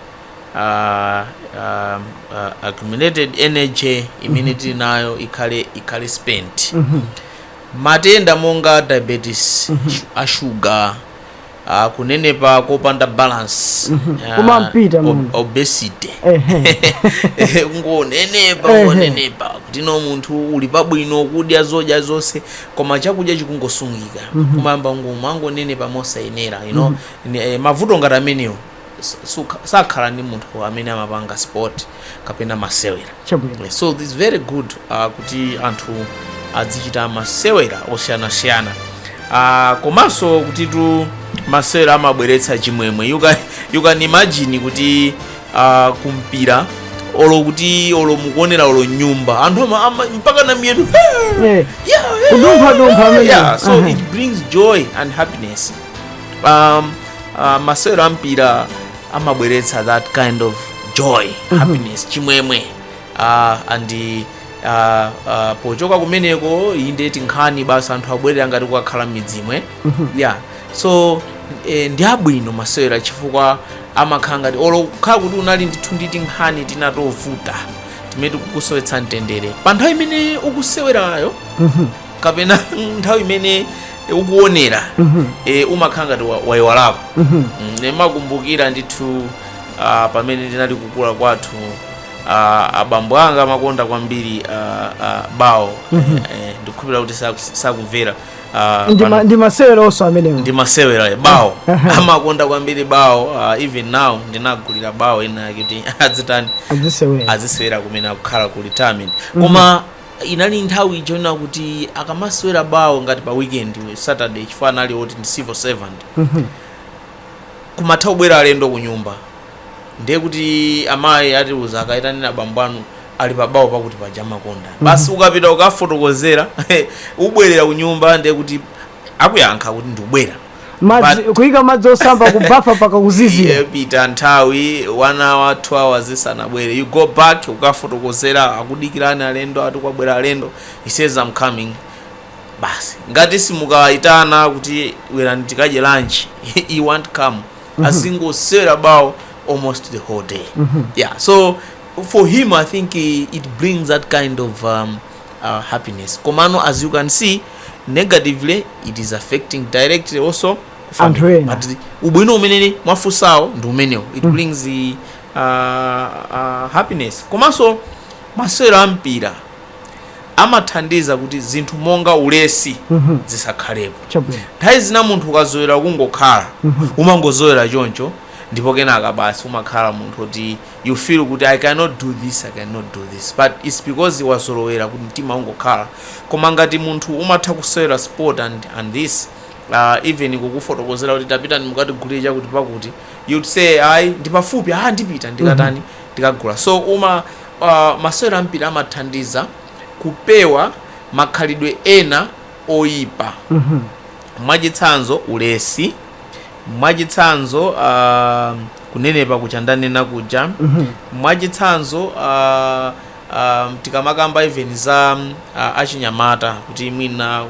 uh, uh, uh, accumulated energy imene tili nayo ikhale ikhale spent matenda monga diabetes shu- a shuga uh, kunenepa kopanda balance uh, Kumampita ob- munthu. obesity Ehe. kungonenepa Ehe. kungonenepa kuti no munthu uli pabwino kudya zodya zonse koma chakudya chikungosungika mm -hmm. kumayamba ngati mwangonenepa mosayenera you know mm -hmm. e, mavuto ngati amenewo sakhala ndi munthu amene amapanga sport kapena masewera eh, so this is very good uh, kuti anthu adzichita masewera osiyanasiyana uh, komanso kutitu masewera amabweretsa chimwemwe you can, you can imagine kuti a kumpira olo kuti olo mukuonera olo m'nyumba anthu ama- ama- mpakana miyendo Eh, Kudumpha-dumpha amene. yeah, so Aha. it brings joy and happiness um, uh, masewera a mpira amabweretsa that kind of joy happiness chimwemwe uh, and uh, uh, pochoka kumeneko inde tinkhani basi anthu abwerera ngati kukakhala m'midzimu yeah so e, ndi abwino masewera chifukwa amakhala ngati olo ukhala kuti unali ndithu ndi tinkhani tina tovuta timene tikukusowetsa mtendere pa nthawi imene ukusewerayo kapena nthawi imene ukuonera e, umakhala ngati wa- wayiwalako Mm, ndimakumbukira ndithu ah, pamene ndinali kukula kwathu ah, abambo anga amakonda kwambiri ah, ah, bawo Eh, eh, ndikukhulupirira kuti saku- sakumvera ah, Ndi ma- pano- ndi masewera onse amenewo ndi masewera bawo amakonda kwambiri bawo ah, even now ndinagulira bawo ina yake kuti adzitani azisewera azisewera kumene akukhala ku retirement koma inali nthawi ija ina kuti akamasewera bawo ngati pa weekend saturday chifukwa anali oti ndi civil servant kumatha kubwera alendo ku nyumba ndiye kuti amayi atiuza kaitaneni abambo anu ali pabawo pakuti paja amakonda basi ukapita ukafotokozera ubwerera kunyumba ndiye kuti akuyankha kuti ndikubwera madzi But- kuyika madzi osamba kubafa mpaka kuzizira Ipita nthawi one hour two hours asanabwere you go back ukafotokozera akudikirani alendo ati kwabwera alendo he says i'm coming basi ngati simukayitana kuti bwerani tikadye lunch he won't come azingosera bawo almost the whole day yeah so for him i think eh, it brings that kind of um, uh, happiness komano as you can see negatively it is affecting directly also Anthu family. ena. But the- ubwino umene mwafusawo ndi umenewo it brings the uh, uh, happiness komanso masewero a mpira amathandiza kuti zinthu monga ulesi zisakhalepo. Nthawi zina munthu ukazolowera kungokhala, umangozolowera choncho ndipo kenaka basi umakhala munthu woti you feel kuti I cannot do this, I cannot do this but it's because wazolowera kuti mtima ungokhala. Koma ngati munthu umatha kusewera sport and and this even kukufotokozera kuti tapitani mukatigulire chakuti pakuti you'd say ayi ndipafupi, aah ndipita ndikatani ndikagula so uma. Masewero a mpira amathandiza kupewa makhalidwe ena oipa. Mwachitsanzo, ulesi. Mwachitsanzo, kunenepa kuja ndanena kuja. Mwachitsanzo, tikamakamba even za achinyamata kuti mwina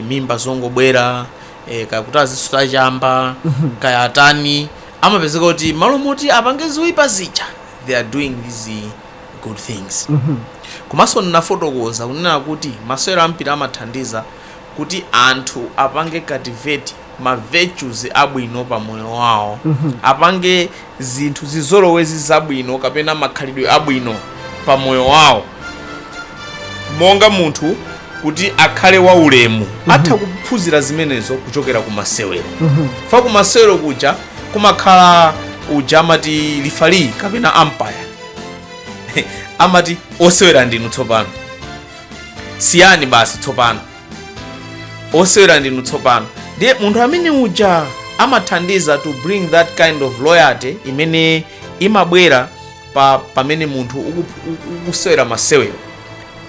mimba zongobwera, kaya kuti azisuta chamba, kaya atani, amapezeka kuti m'malo moti apange zoipa zija. they are doing these good things komanso ndinafotokoza kunena kuti masewero ampira amathandiza kuti anthu apange cultivate ma virtues abwino pa moyo wawo apange zinthu zizolowezi zabwino kapena makhalidwe abwino pa moyo wawo monga munthu kuti akhale wa ulemu atha kuphunzira zimenezo kuchokera ku masewero fa ku masewero kuja kumakhala uja amati referee kapena umpire amati osewera ndinu tsopano siyani basi tsopano osewera ndinu tsopano ndiye munthu amene uja amathandiza to bring that kind of loyalty imene imabwera pa pamene munthu uku- uku- ukusewera masewero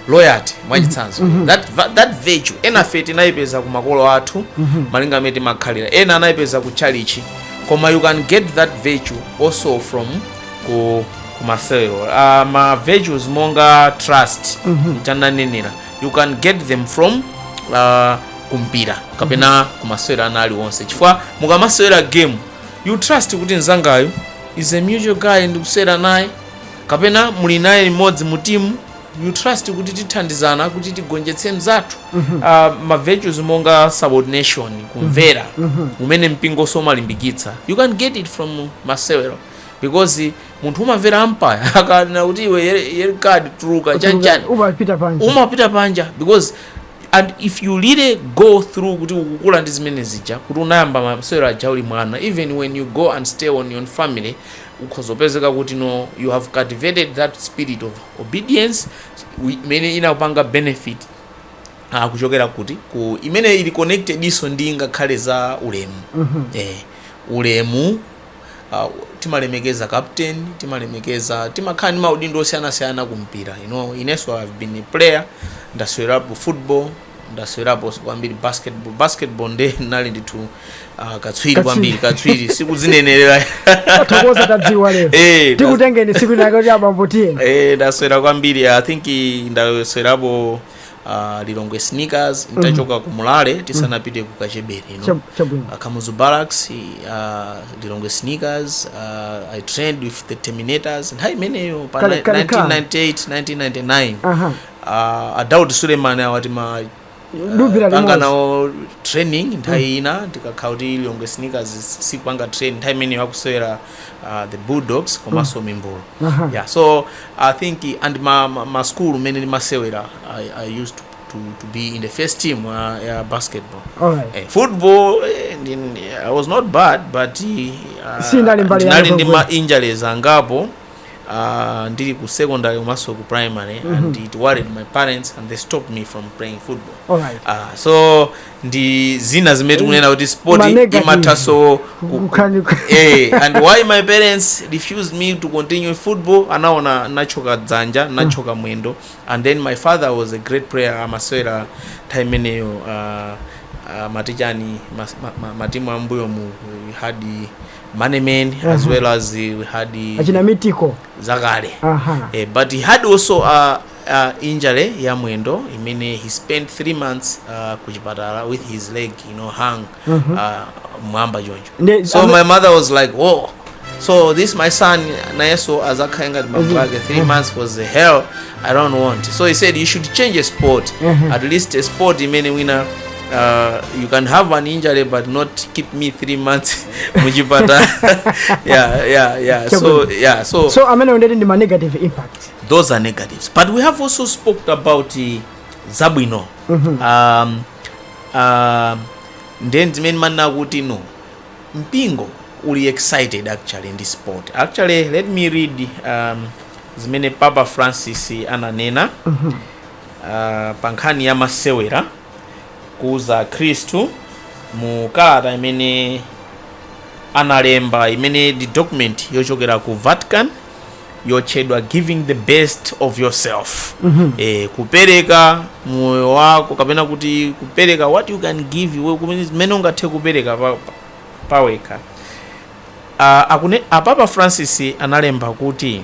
loyalty mwachitsanzo that, va- that virtue enafe tinayipeza ku makolo athu malinga amene timakhalira ena anayipeza ku chalichi koma you can get that virtue also from ku, ku masewero uh, ma virtues monga trust cha ndanenera you can get them from uh, kumpira kapena kumasewera ena aliwonse chifukwa mukamasewera game you trust kuti mzangayu is a mutual guy ndikusewera naye kapena muli naye limodzi mu timu you trust kuti tithandizana kuti tigonjetse mzathu Ah, ma virtues monga subordination kumvera umene mpingo nso umalimbikitsa you can get it from masewero because munthu umamvera umpire akanena kuti iwe yellow card tuluka chanchani umapita panja umapita panja because and if you really go through kuti ukukula ndi zimene zija kuti unayamba masewero aja uli mwana even when you go and stay on your family ukhoza kupezeka kuti no you have cultivated that spirit of obedience wi- imene inakupanga benefit ah, kuchokera kuti ku imene ili connected-nso ndi ngakhale za ulemu eh, ulemu uh, timalemekeza captain timalemekeza timakhala ndi maudindo osiyanasiyana ku mpira you know, inenso i've been a player ndasewerapo football ndasewerapo kwambiri basketball basketball nde ndinali ndithu uh, katswiri kwambiri katswiri sikudzinenerera tathokoza tadziwa lero Eh, nda- tikutengeni tsiku linalake kuti abambo tiyeni eh, ndasewera kwambiri i think i- ndasewerapo uh, lilongwe sneakers ntachoka ku mulale tisanapite ku kachebeni you know? Chab- chabwino uh, Kamuzu Barracks, uh, Lilongwe Sneakers, uh, I trained with the Terminators. Nthawi imeneyo pa Kale- ni- kale ka. 1998, 1999. aha Uh, a Daud Suleiman awa tima Duvira panga limodzi. nawo training nthawi ina tikakhala kuti Lilongwe Sneakers sikupanga train nthawi imeneyo akusewera uh, the bulldogs komanso mimbulu Aha. yeah so i think and ma, ma, ma school mene ndimasewera I, i used to, to, to be in the first team uh, ya basketball Alright. eh, football eh, ndi- ndi- i was not bad but uh, Sinali mbali ya ndinali ndi ma football. injuries angapo uh, ndili ku secondary komanso ku primary and it worried my parents and they stopped me from playing football Alright. uh, so ndi zina zimene tikunena kuti sport Ma negative. imathaso ku- Kukhala ni- eh, and why my parents refused me to continue football anaona nditathyoka dzanja nditathyoka mwendo and then my father was a great player amasewera nthawi imeneyo uh, uh, matichani mas- ma- ma- matimu ambuyo mu we had manemen as well as we had achina mitiko zakale aha Eh, but he had also uh, a injury ya mwendo imene he spent 3 months uh, ku chipatala with his leg you know hung uh, mwamba choncho Nde- so ame- my mother was like whoa so this my son nayeso azakhale ngati bambo ake 3 months was the hell i don't want so he said you should change a sport at least a sport imene wina uh, you can have an injury but not keep me 3 months muchipatala yeah yeah yeah so yeah so so amene undeti ndi ma negative impact those are negatives but we have also spoke about eh, zabwino um, um, ndiye zimene ndimanena kuti no mpingo uli excited actually ndi sport actually let me read um, zimene papa francis ananena uh, pa nkhani ya masewera kuuza akhristu mu kalata imene analemba imene ndi document yochokera ku vatican yotchedwa giving the best of yourself mm -hmm. e, kupereka moyo wako kapena kuti kupereka what you can give iwe kumene zimene ungathe kupereka pa- pa- pawekha Ah, akune- a papa francis analemba kuti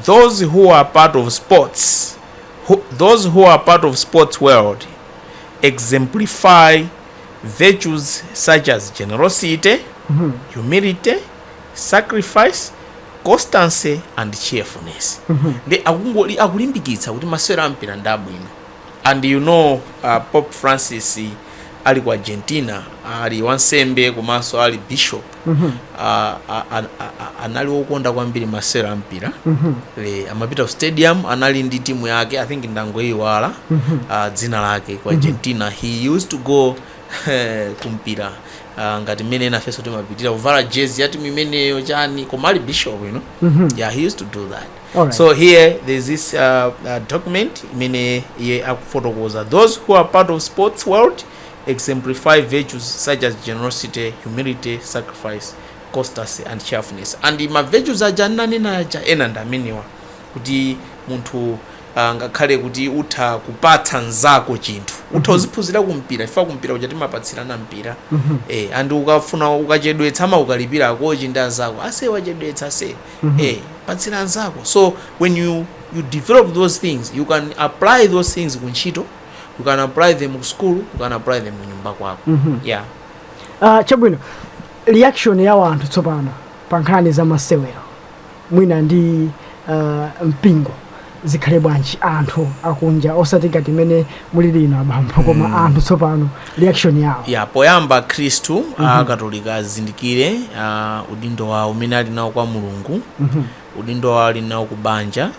those who are part of sports who, those who are part of sports world exemplify virtues such as generosity humility sacrifice constancy and cheerfulness ndiye akungoli akulimbikitsa kuti masewero ampira ndi abwino and you know uh, pope francis ali ku argentina ali wansembe komanso ali bishop uh, a- a- a- a- anali wokonda kwambiri masewero ampira Le, amapita ku stadium anali ndi timu yake i think ndangoyiwala uh, dzina lake ku argentina he used to go eh, kumpira Ah, ngati mmene nafenso timapitira kuvala jezi ya timu imeneyo chani koma ali bishop you know Mhm. yeah he used to do that Alright. so here there's this uh, uh, document imene iye akufotokoza those who are part of sports world exemplify virtues such as generosity humility sacrifice constancy and cheerfulness and ma virtues aja ndinanena aja ena ndi amenewa kuti munthu a ngakhale kuti utha kupatsa nzako chinthu utha uziphunzira ku mpira chifukwa ku mpira uja timapatsirana mpira e, and ukafuna ukachedwetsa amakukalipira akochi ndi anzako ase wachedwetsa ase patsira anzako so when you, you develop those things you can apply those things ku ntchito you can apply them ku school you can apply them kunyumba kwako yeah Ah, chabwino reaction ya wanthu tsopano pa nkhani za masewero mwina ndi uh, mpingo zikhale bwanji anthu akunja osati ngati imene mulili inu abambo koma mm. anthu tsopano reaction yawo ya poyamba akhristu mm -hmm. akatolika azindikire uh, udindo wawo umene ali nawo kwa mulungu mm -hmm. udindo wawo ali nawo ku banja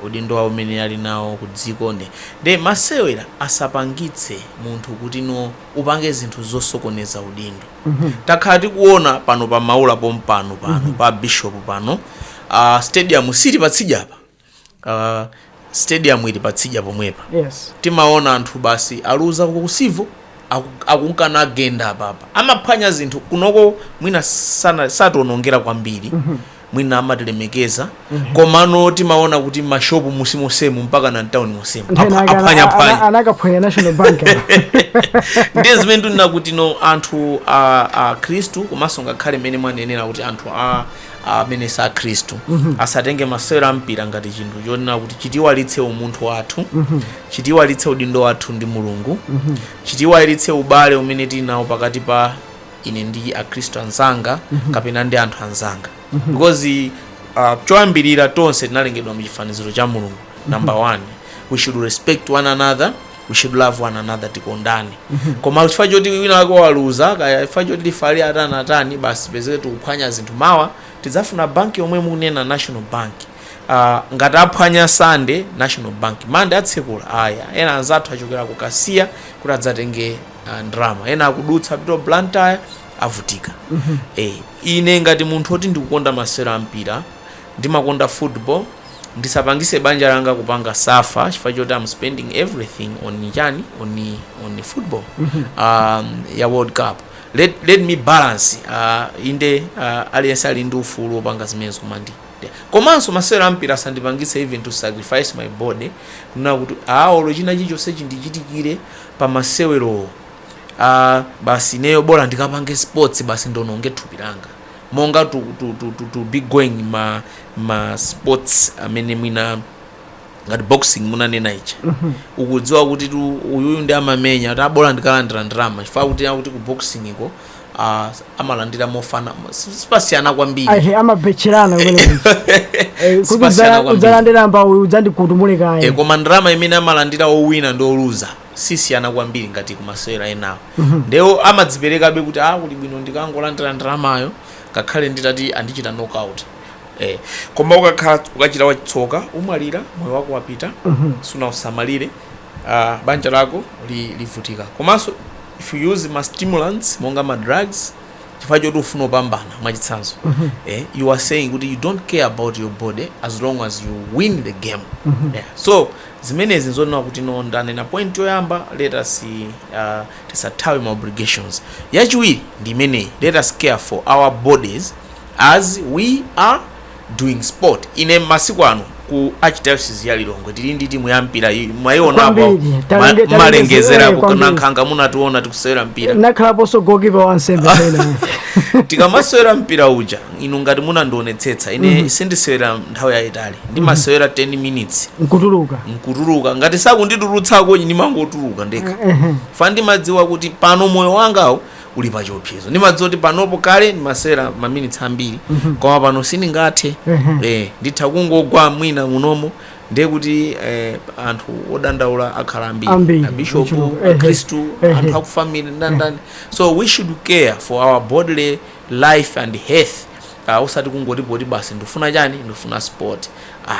udindo wawo umene ali nawo ku dziko nde nde masewera asapangitse munthu kuti no upange zinthu zosokoneza udindo takhala tikuona pano pa maula pompano pano pa bishop pano uh, stadium si ili patsidya apa uh, stadium ili patsidya pomwepa yes timaona anthu basi aluza ku Civo akunka nagenda apapa amaphwanya zinthu kunoko mwina sana- sationongera kwambiri mwina amatilemekeza komano timaona kuti mashopu munsi monsemu mpaka na mtauni monsemu Nthawi Apa- yake ana- aphwanya ana- phwanya anakaphwanya national bank ndiye zimene tikunena kuti no anthu a, a khristu komanso ngakhale mmene mwanenera kuti anthu a amene si akhristu asatenge masewero a mpira ngati chinthu chonena kuti chitiiwalitse umunthu wathu chitiiwalitse udindo wathu ndi mulungu chitiiwalitse ubale umene tili nawo pakati pa ine ndi akhristu anzanga kapena ndi anthu anzanga because uh, choyambirira tonse tinalengedwa mu chifaniziro cha mulungu number one we should respect one another we should love one another tikondane koma chifukwa choti wina wake waluza kaya chifukwa choti lifali atani atani basi pezeke tikuphwanya zinthu mawa tidzafuna banki yomwe mukunena national bank uh, ngati aphwanya Sunday national bank Monday atsekula ayi ena anzathu achokera ku kasiya kuti adzatenge ah, ndalama ena akudutsa apita ku blantyre avutika eh, ine ngati munthu oti ndikukonda masewero a mpira ndimakonda football ndisapangise banja langa kupanga suffer chifukwa choti am spending everything on chani on, on football um, ya world cup let, let me balance uh, inde uh, aliyense ali ndi ufulu wopanga zimenezo koma ndi ndi- komanso masewero ampira asandipangise even to sacrifice my body kunena kuti olo china chilichonse chindichitikire pa masewerowo aa basi ineyo bola ndikapange sports basi ndononge thupi langa monga to, to, to, to, to be going ma, ma sports amene mwina ngati boxing munanena ija ukudziwa kuti tu uyuyu ndiye amamenya kuti aa bola ndikalandira ndalama chifukwa kuti akuti ku boxing ko ah, amalandira mofana si- sipasiyana kwambiri ahe amabetcherana kumene Eh, kuti Sipasiyana udzala- kwambiri. udzalandira mbawu udzandikutumule e, kaye koma ndalama imene amalandira owina ndi oluza sisiyana kwambiri ngati kumasewera enawo ndewo amadziperekabe kuti a kuli bwino ndikangolandira ndalamayo ngakhale nditati andichita knockout e, koma ukakhala ukachita wachitsoka umwalira moyo wako wapita sunausamalire uh, banja lako livutika komanso if you use ma stimulants monga ma drugs chifukwa choti ufuna upambana mwachitsanzo mm -hmm. eh, you are saying kuti you don't care about your body as long as you win the game mm -hmm. yeah. so zimenezi nzonena kuti no ndanena point yoyamba let us uh, tisathawe ma obligations yachiwiri ndi imeneyi let us care for our bodies as we are doing sport ine masiku ano ku archdiocese ya lilongwe tili ndi timu ya mpira iyi mwaionapo Kwambiri, malengezera eh, kwambiri. Kunankhaka munationa tikusewera mpira nakhalaponso goalkeeper wansembe pena tikamasewera mpira uja inu ngati munandionetsetsa ine sindisewera nthawi yayitali ndimasewera 10 minutes nkutuluka nkutuluka ngati sakunditulutsako ndimangotuluka ndekha fa ndimadziwa kuti pano moyo wangawo uli pa chiopsezo ndimadziwa kuti panopo kale ndimasewera maminitsi ambiri koma pano sindingathe eh, nditha kungogwa mwina munomo ndiye kuti eh, anthu odandaula akhala Ambiri, ambiri abishopu ochuluka. Ehe. akhristu Ehe. anthu akufamili ndandani so we should care for our bodily life and health uh, usati kungoti poti basi ndifuna chani ndifuna sport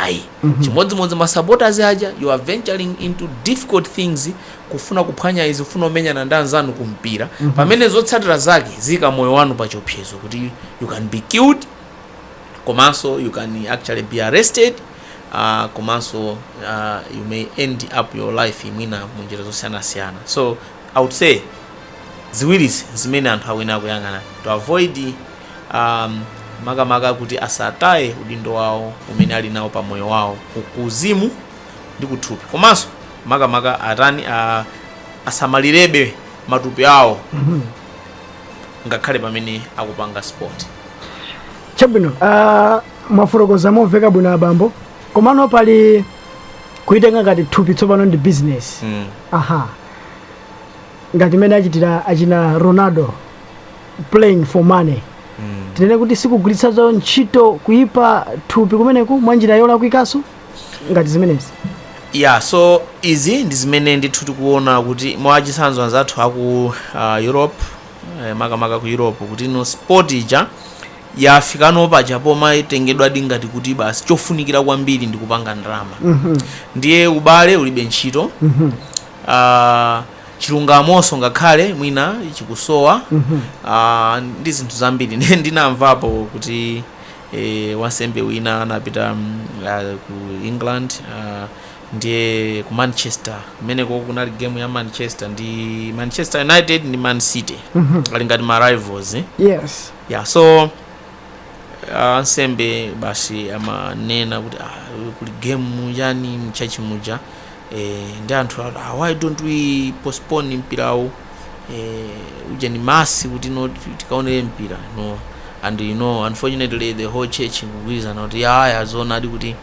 ayi chimodzimodzi masupporters aja you are venturing into difficult things kufuna kuphwanya izi, kufuna kumenyana ndi anzanu ku mpira, pamene zotsatira zake ziyika moyo wanu pa chiopsezo kuti you can be killed komanso you can actually be arrested uh, komanso uh, you may end up your life mwina mu njira zosiyanasiyana so i would say ziwirizi zimene anthu akuyenera kuyang'ana to avoid um, makamaka kuti asataye udindo wawo umene ali nawo pa moyo wawo ku- kuuzimu ndi kuthupi komanso makamaka atani a, asamalirebe matupi awo ngakhale pamene akupanga sport chabwino ah, mwafotokoza momveka bwino abambo komano pali kuitenga ngati thupi tsopano ndi business mm. aha ngati mmene achitira achina ronaldo playing for money Mm. tinene kuti sikugwiritsanso ntchito kuyipa thupi kumeneku mwa njira yolakwikanso ngati zimenezi ya so izi ndi zimene ndithu tikuona kuti mwachitsanzo anzathu aku uh, europe eh, makamaka ku europe kuti no sport ija yafikano paja poma itengedwadi ngati kuti basi chofunikira kwambiri ndi kupanga ndalama Mhm. ndiye ubale ulibe ntchito Mhm. Ah, chilungamonso ngakhale mwina chikusowa Mhm. Ah, ndi zinthu zambiri Ndi- ndinamvapo kuti Wansembe wina anapita ku England ndiye ku Manchester kumeneko kunali game ya Manchester ndi Manchester United ndi Man City ali ngati ma rivals eh? yes yeah so ah, ansembe basi amanena kuti ah, kuli game yani mchachi muja Eee ndi anthu ati awa why don't we postpone mpirawu eeh uja ndi Mass kuti no tikaonere mpira no and you know unfortunately the whole church kugwirizana kuti yaya zoonadi kuti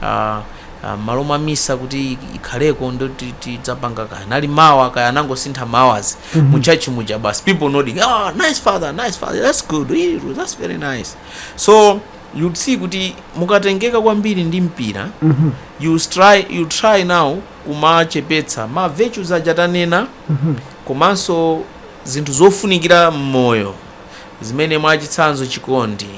ah, ah, m'malo mwa misa kuti ik- ikhaleko ndo ti- tidzapanga kaya nali mawa kaya anangosintha mawazi mu church muja basi people nodding ah nice father nice father that's good Ee, that's very nice so you'd see kuti mukatengeka kwambiri ndi mpira you'll try, you'll try now kumachepetsa ma virtues aja tanena komanso zinthu zofunikira m'moyo zimene mwachitsanzo chikondi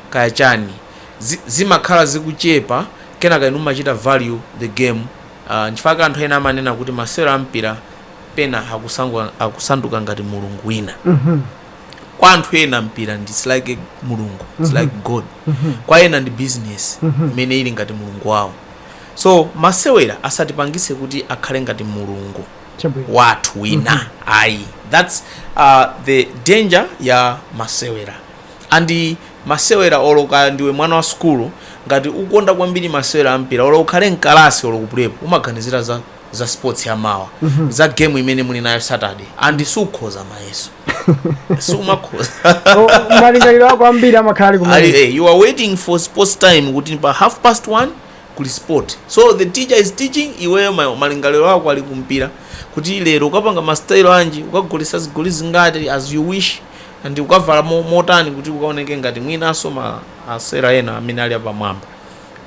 kaya chani zi, zimakhala zikuchepa kenaka inu mumachita value the game uh, nchifukwa anthu ena amanena kuti masewero a mpira pena akusangwa- akusanduka ngati mulungu wina kwa anthu ena mpira ndi it's like mulungu it's like god kwa ena ndi business imene ili ngati mulungu wawo so masewera asatipangise kuti akhale ngati mulungu wathu wina ayi thats uh, the danger ya masewera and masewera olo kaya ndiwe mwana wa sukulu ngati ukonda kwambiri masewera ampira olo ukhale mkalasi olo kupulepo umaganizira za za sports ya mawa za game imene muli nayo saturday and sukhoza mayeso sumakhoza Oh, malingaliro ako ambiri amakhala ali Ali- kumene eh, you are waiting for sports time kuti pa half past one kuli sport so the teacher is teaching iweyo ma- malingaliro ako ali kumpira kuti lero ukapanga mastayilo anji ukagoletsa zigoli zingati as you wish and ukavala mo- motani kuti ukaoneke ngati mwinanso maosewera ena amene ali apamwamba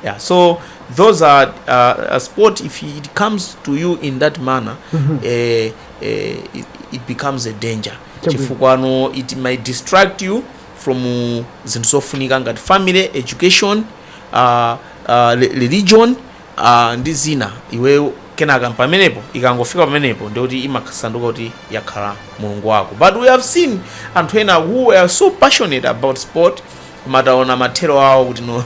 Yeah, so those are uh, a sport if it comes to you in that manner mm -hmm. eh, eh, it, it becomes a danger chifukwa no it might distract you from uh, zinthu zofunika ngati family education uh, uh, religion uh, ndi zina iwe kenaka pamenepo ikangofika pamenepo ndikuti imasanduka kuti yakhala mulungu wako but we have seen anthu ena who are so passionate about sport koma taona mathero awo kuti no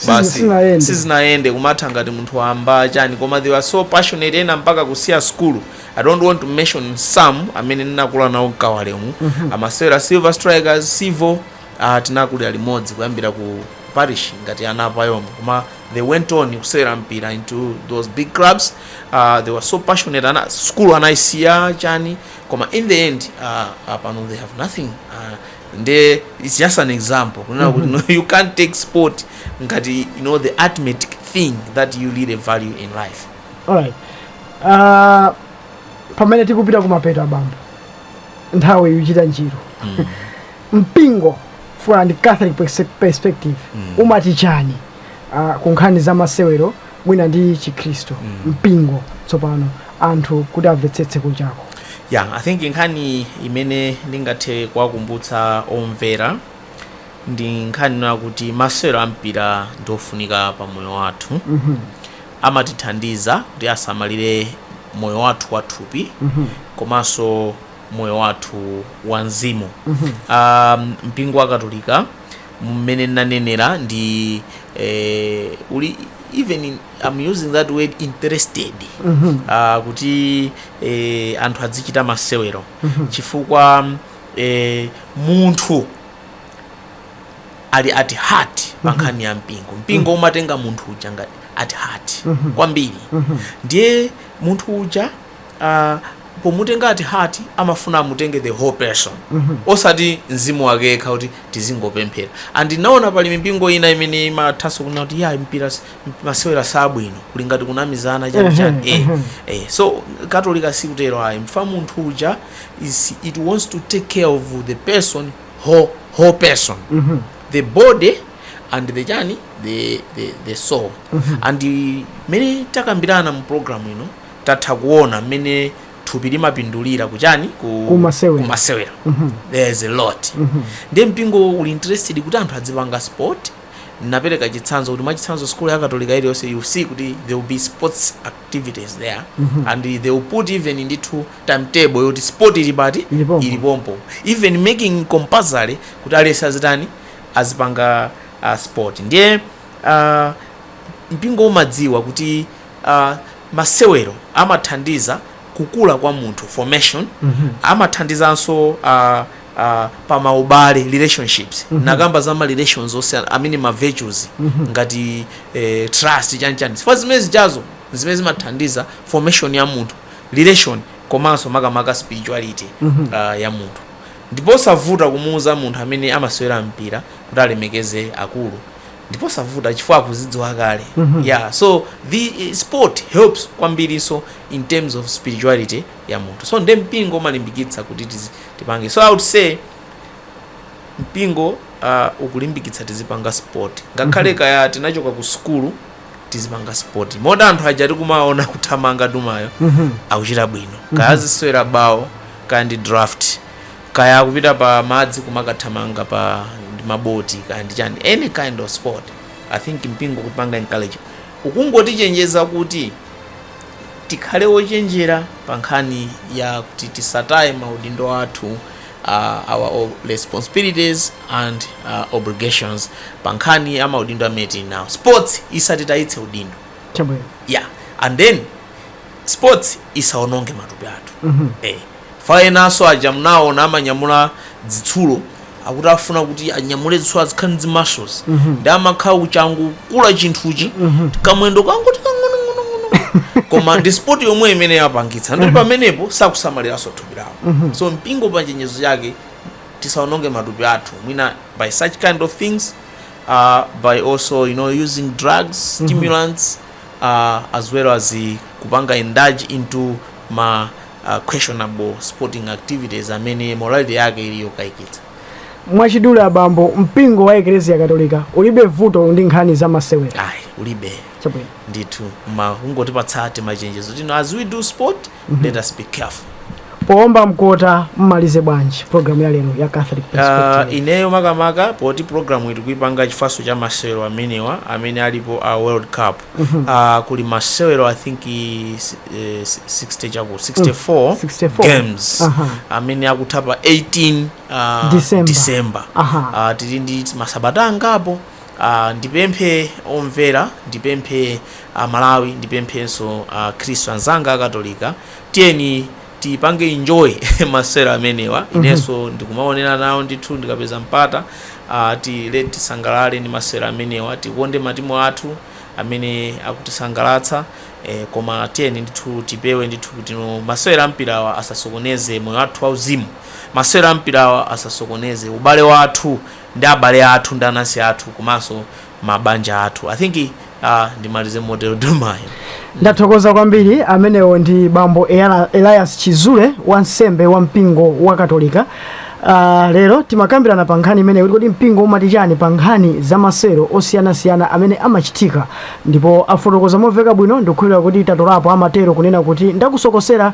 basi sizinayende. sizinayende kumatha ngati munthu wamba chani koma they were so passionate ena mpaka kusiya skulu i don't want to mention some amene ndinakula nawo mkawalemu amasewera silver strikers civil uh, tinakulira limodzi kuyambira ku parish ngati ana apayombo koma they went on kusewera mpira into those big clubs uh, they were so passionate ena skulu anayisiya chani koma in the end uh, uh, pano they have nothing uh, nde its just an example kunena kuti no, you can't take sport ngati you know the ultimate thing that you really value in life alright Ah, pamene tikupita kumapeto abambo nthawi ikuchita njiru mpingo from the catholic perse- perspective umati chani ah, ku nkhani za masewero mwina ndi chikhristu mpingo tsopano anthu kuti amvetsetse kunjako ya i think nkhani imene ndingathe kuwakumbutsa omvera ndi nkhani yakuti masewero ampira ndi ofunika pa moyo wathu amatithandiza kuti tisamalire moyo wathu wathupi komanso moyo wathu wa mzimu um, mpingo wa katolika mmene nnanenera ndi eh, uli even mm, I'm using that word interested ah, kuti eh, anthu adzichita masewero chifukwa eh, munthu ali at heart pa nkhani ya mpingo mpingo umatenga munthu uja ngati at heart kwambiri ndiye munthu uja uh, pomutenga at heart amafuna amutenge the whole person mm -hmm. osati mzimu wake yekha kuti tizingopemphera and naona pali mipingo ina imene imathanso kunena kuti ya mpira masewera sabwino kuli ngati kunamizana chani chani mm -hmm. eh, mm-hmm. eh. so katolika sikutero ayi mfa munthu uja is it wants to take care of the person whole, whole person mm -hmm. the body and the chani the, the, the soul mm -hmm. and mmene takambirana mu program ino tatha kuona mmene thupi limapindulira kuchani ku Kumasewera. kumasewera there is a lot ndiye mpingo uli interested kuti anthu adzipanga sport napereka chitsanzo kuti mwachitsanzo skulu ya katolika iliyonse you see kuti there will be sports activities there and they will put even ndithu timetable yoti sport ili pati Ili pompo. ili pompo even making compulsory kuti aliyense azitani azipanga uh, sport ndiye uh, mpingo umadziwa kuti a Masewero amathandiza kukula kwa munthu, formation, amathandizanso a a pa maubale, relationships, tinakamba za ma relations onse amene ma virtues ngati eh, trust chani chani chifukwa zimene zijazo ndi zimene zimathandiza formation ya munthu, relation komanso makamaka spirituality ah, ya munthu ndiposavuta kumuuza munthu amene amasewera mpira kuti alemekeze akulu ndiposavuta chifukwa akuzidziwa kale mm -hmm. yeah so the eh, sport helps kwambirinso in terms of spirituality ya munthu so nde mpingo umalimbikitsa kuti tipange so i would say mpingo uh, ukulimbikitsa tizipanga sport ngakhale mm -hmm. kaya tinachoka ku sukulu tizipanga sport moti anthu aja tikumaona kuthamanga dumayo mm -hmm. akuchita bwino mm -hmm. kaya mhm. azisewera bawo kaya ndi draft Kaya akupita pa madzi kumakathamanga pa ndi ma boti kaya ndi chani any kind of sport I think mpingo ukutipanga encourage ukungotichenjeza kuti tikhale ochenjera pa nkhani ya kuti tisataye ma udindo athu uh, our o- responsibilities and uh, obligations pa nkhani ya ma udindo amene tili nawo sports isatitayitse udindo Chabwino. yeah and then sports isaononge matupi athu eh pa enanso aja mnaona amanyamula zitsulo akuti afuna kuti anyamule zitsulo azikhala ndi zi muscles ndi amakhala kuchangokula chinthuchi kamwendo kangoti kang'onong'onong'ono koma ndi sport yomweyo imene yapangitsa nde pamenepo sakusamaliranso thupi lawo so mpingo pa chenjezo lake tisaononge matupi athu mwina by such kind of things uh, by also you know using drugs stimulants uh, as well as uh, kupanga indulge into ma uh, questionable sporting activities amene morality yake ili yokayikitsa mwachidule abambo mpingo wa eklesia katolika ulibe vuto ndi nkhani za masewera ayi ulibe chabwino ndithu ma kungotipatsa timachenjezo kuti no as we do sport mhm. let us be careful poomba mkota mmalize bwanji programu ya lero ya catholic ah, perspective uh, ineyo makamaka poti programu iyi tikuipanga chifukwanso cha masewero amenewa amene alipo a uh, world cup mm -hmm. uh, kuli masewero i think uh, 60 chakuti 64, mm, 64 games uh -huh. amene akutha pa 18 uh, december, december. Uh -huh. uh, tili ndi masabata angapo Aaa ndipemphe omvera ndipemphe a Malawi ndipemphenso a khristu anzanga a katolika tiyeni tipange enjoy masewero amenewa inenso ndikumaonera nawo ndithu ndikapeza mpata ah, tiyeni tisangalale ndi masewero amenewa tikonde matimu athu amene akutisangalatsa eh, koma tiyeni ndithu tipewe ndithu kuti no masewero ampirawa asasokoneze moyo wathu wauzimu masewero ampirawa asasokoneze ubale wathu ndi abale athu ndi anansi athu komanso mabanja athu i think uh, ndimalize motero do mayo ndathokoza kwambiri amenewo ndi bambo Elias Chizule wansembe wa mpingo wa katolika Uh, lero timakambirana pa nkhani imeneyo kuti kodi mpingo umati chani pa nkhani za masewero osiyanasiyana amene amachitika ndipo afotokoza momveka bwino ndikukhulupirira kuti tatolapo amatero kunena kuti ndakusokosera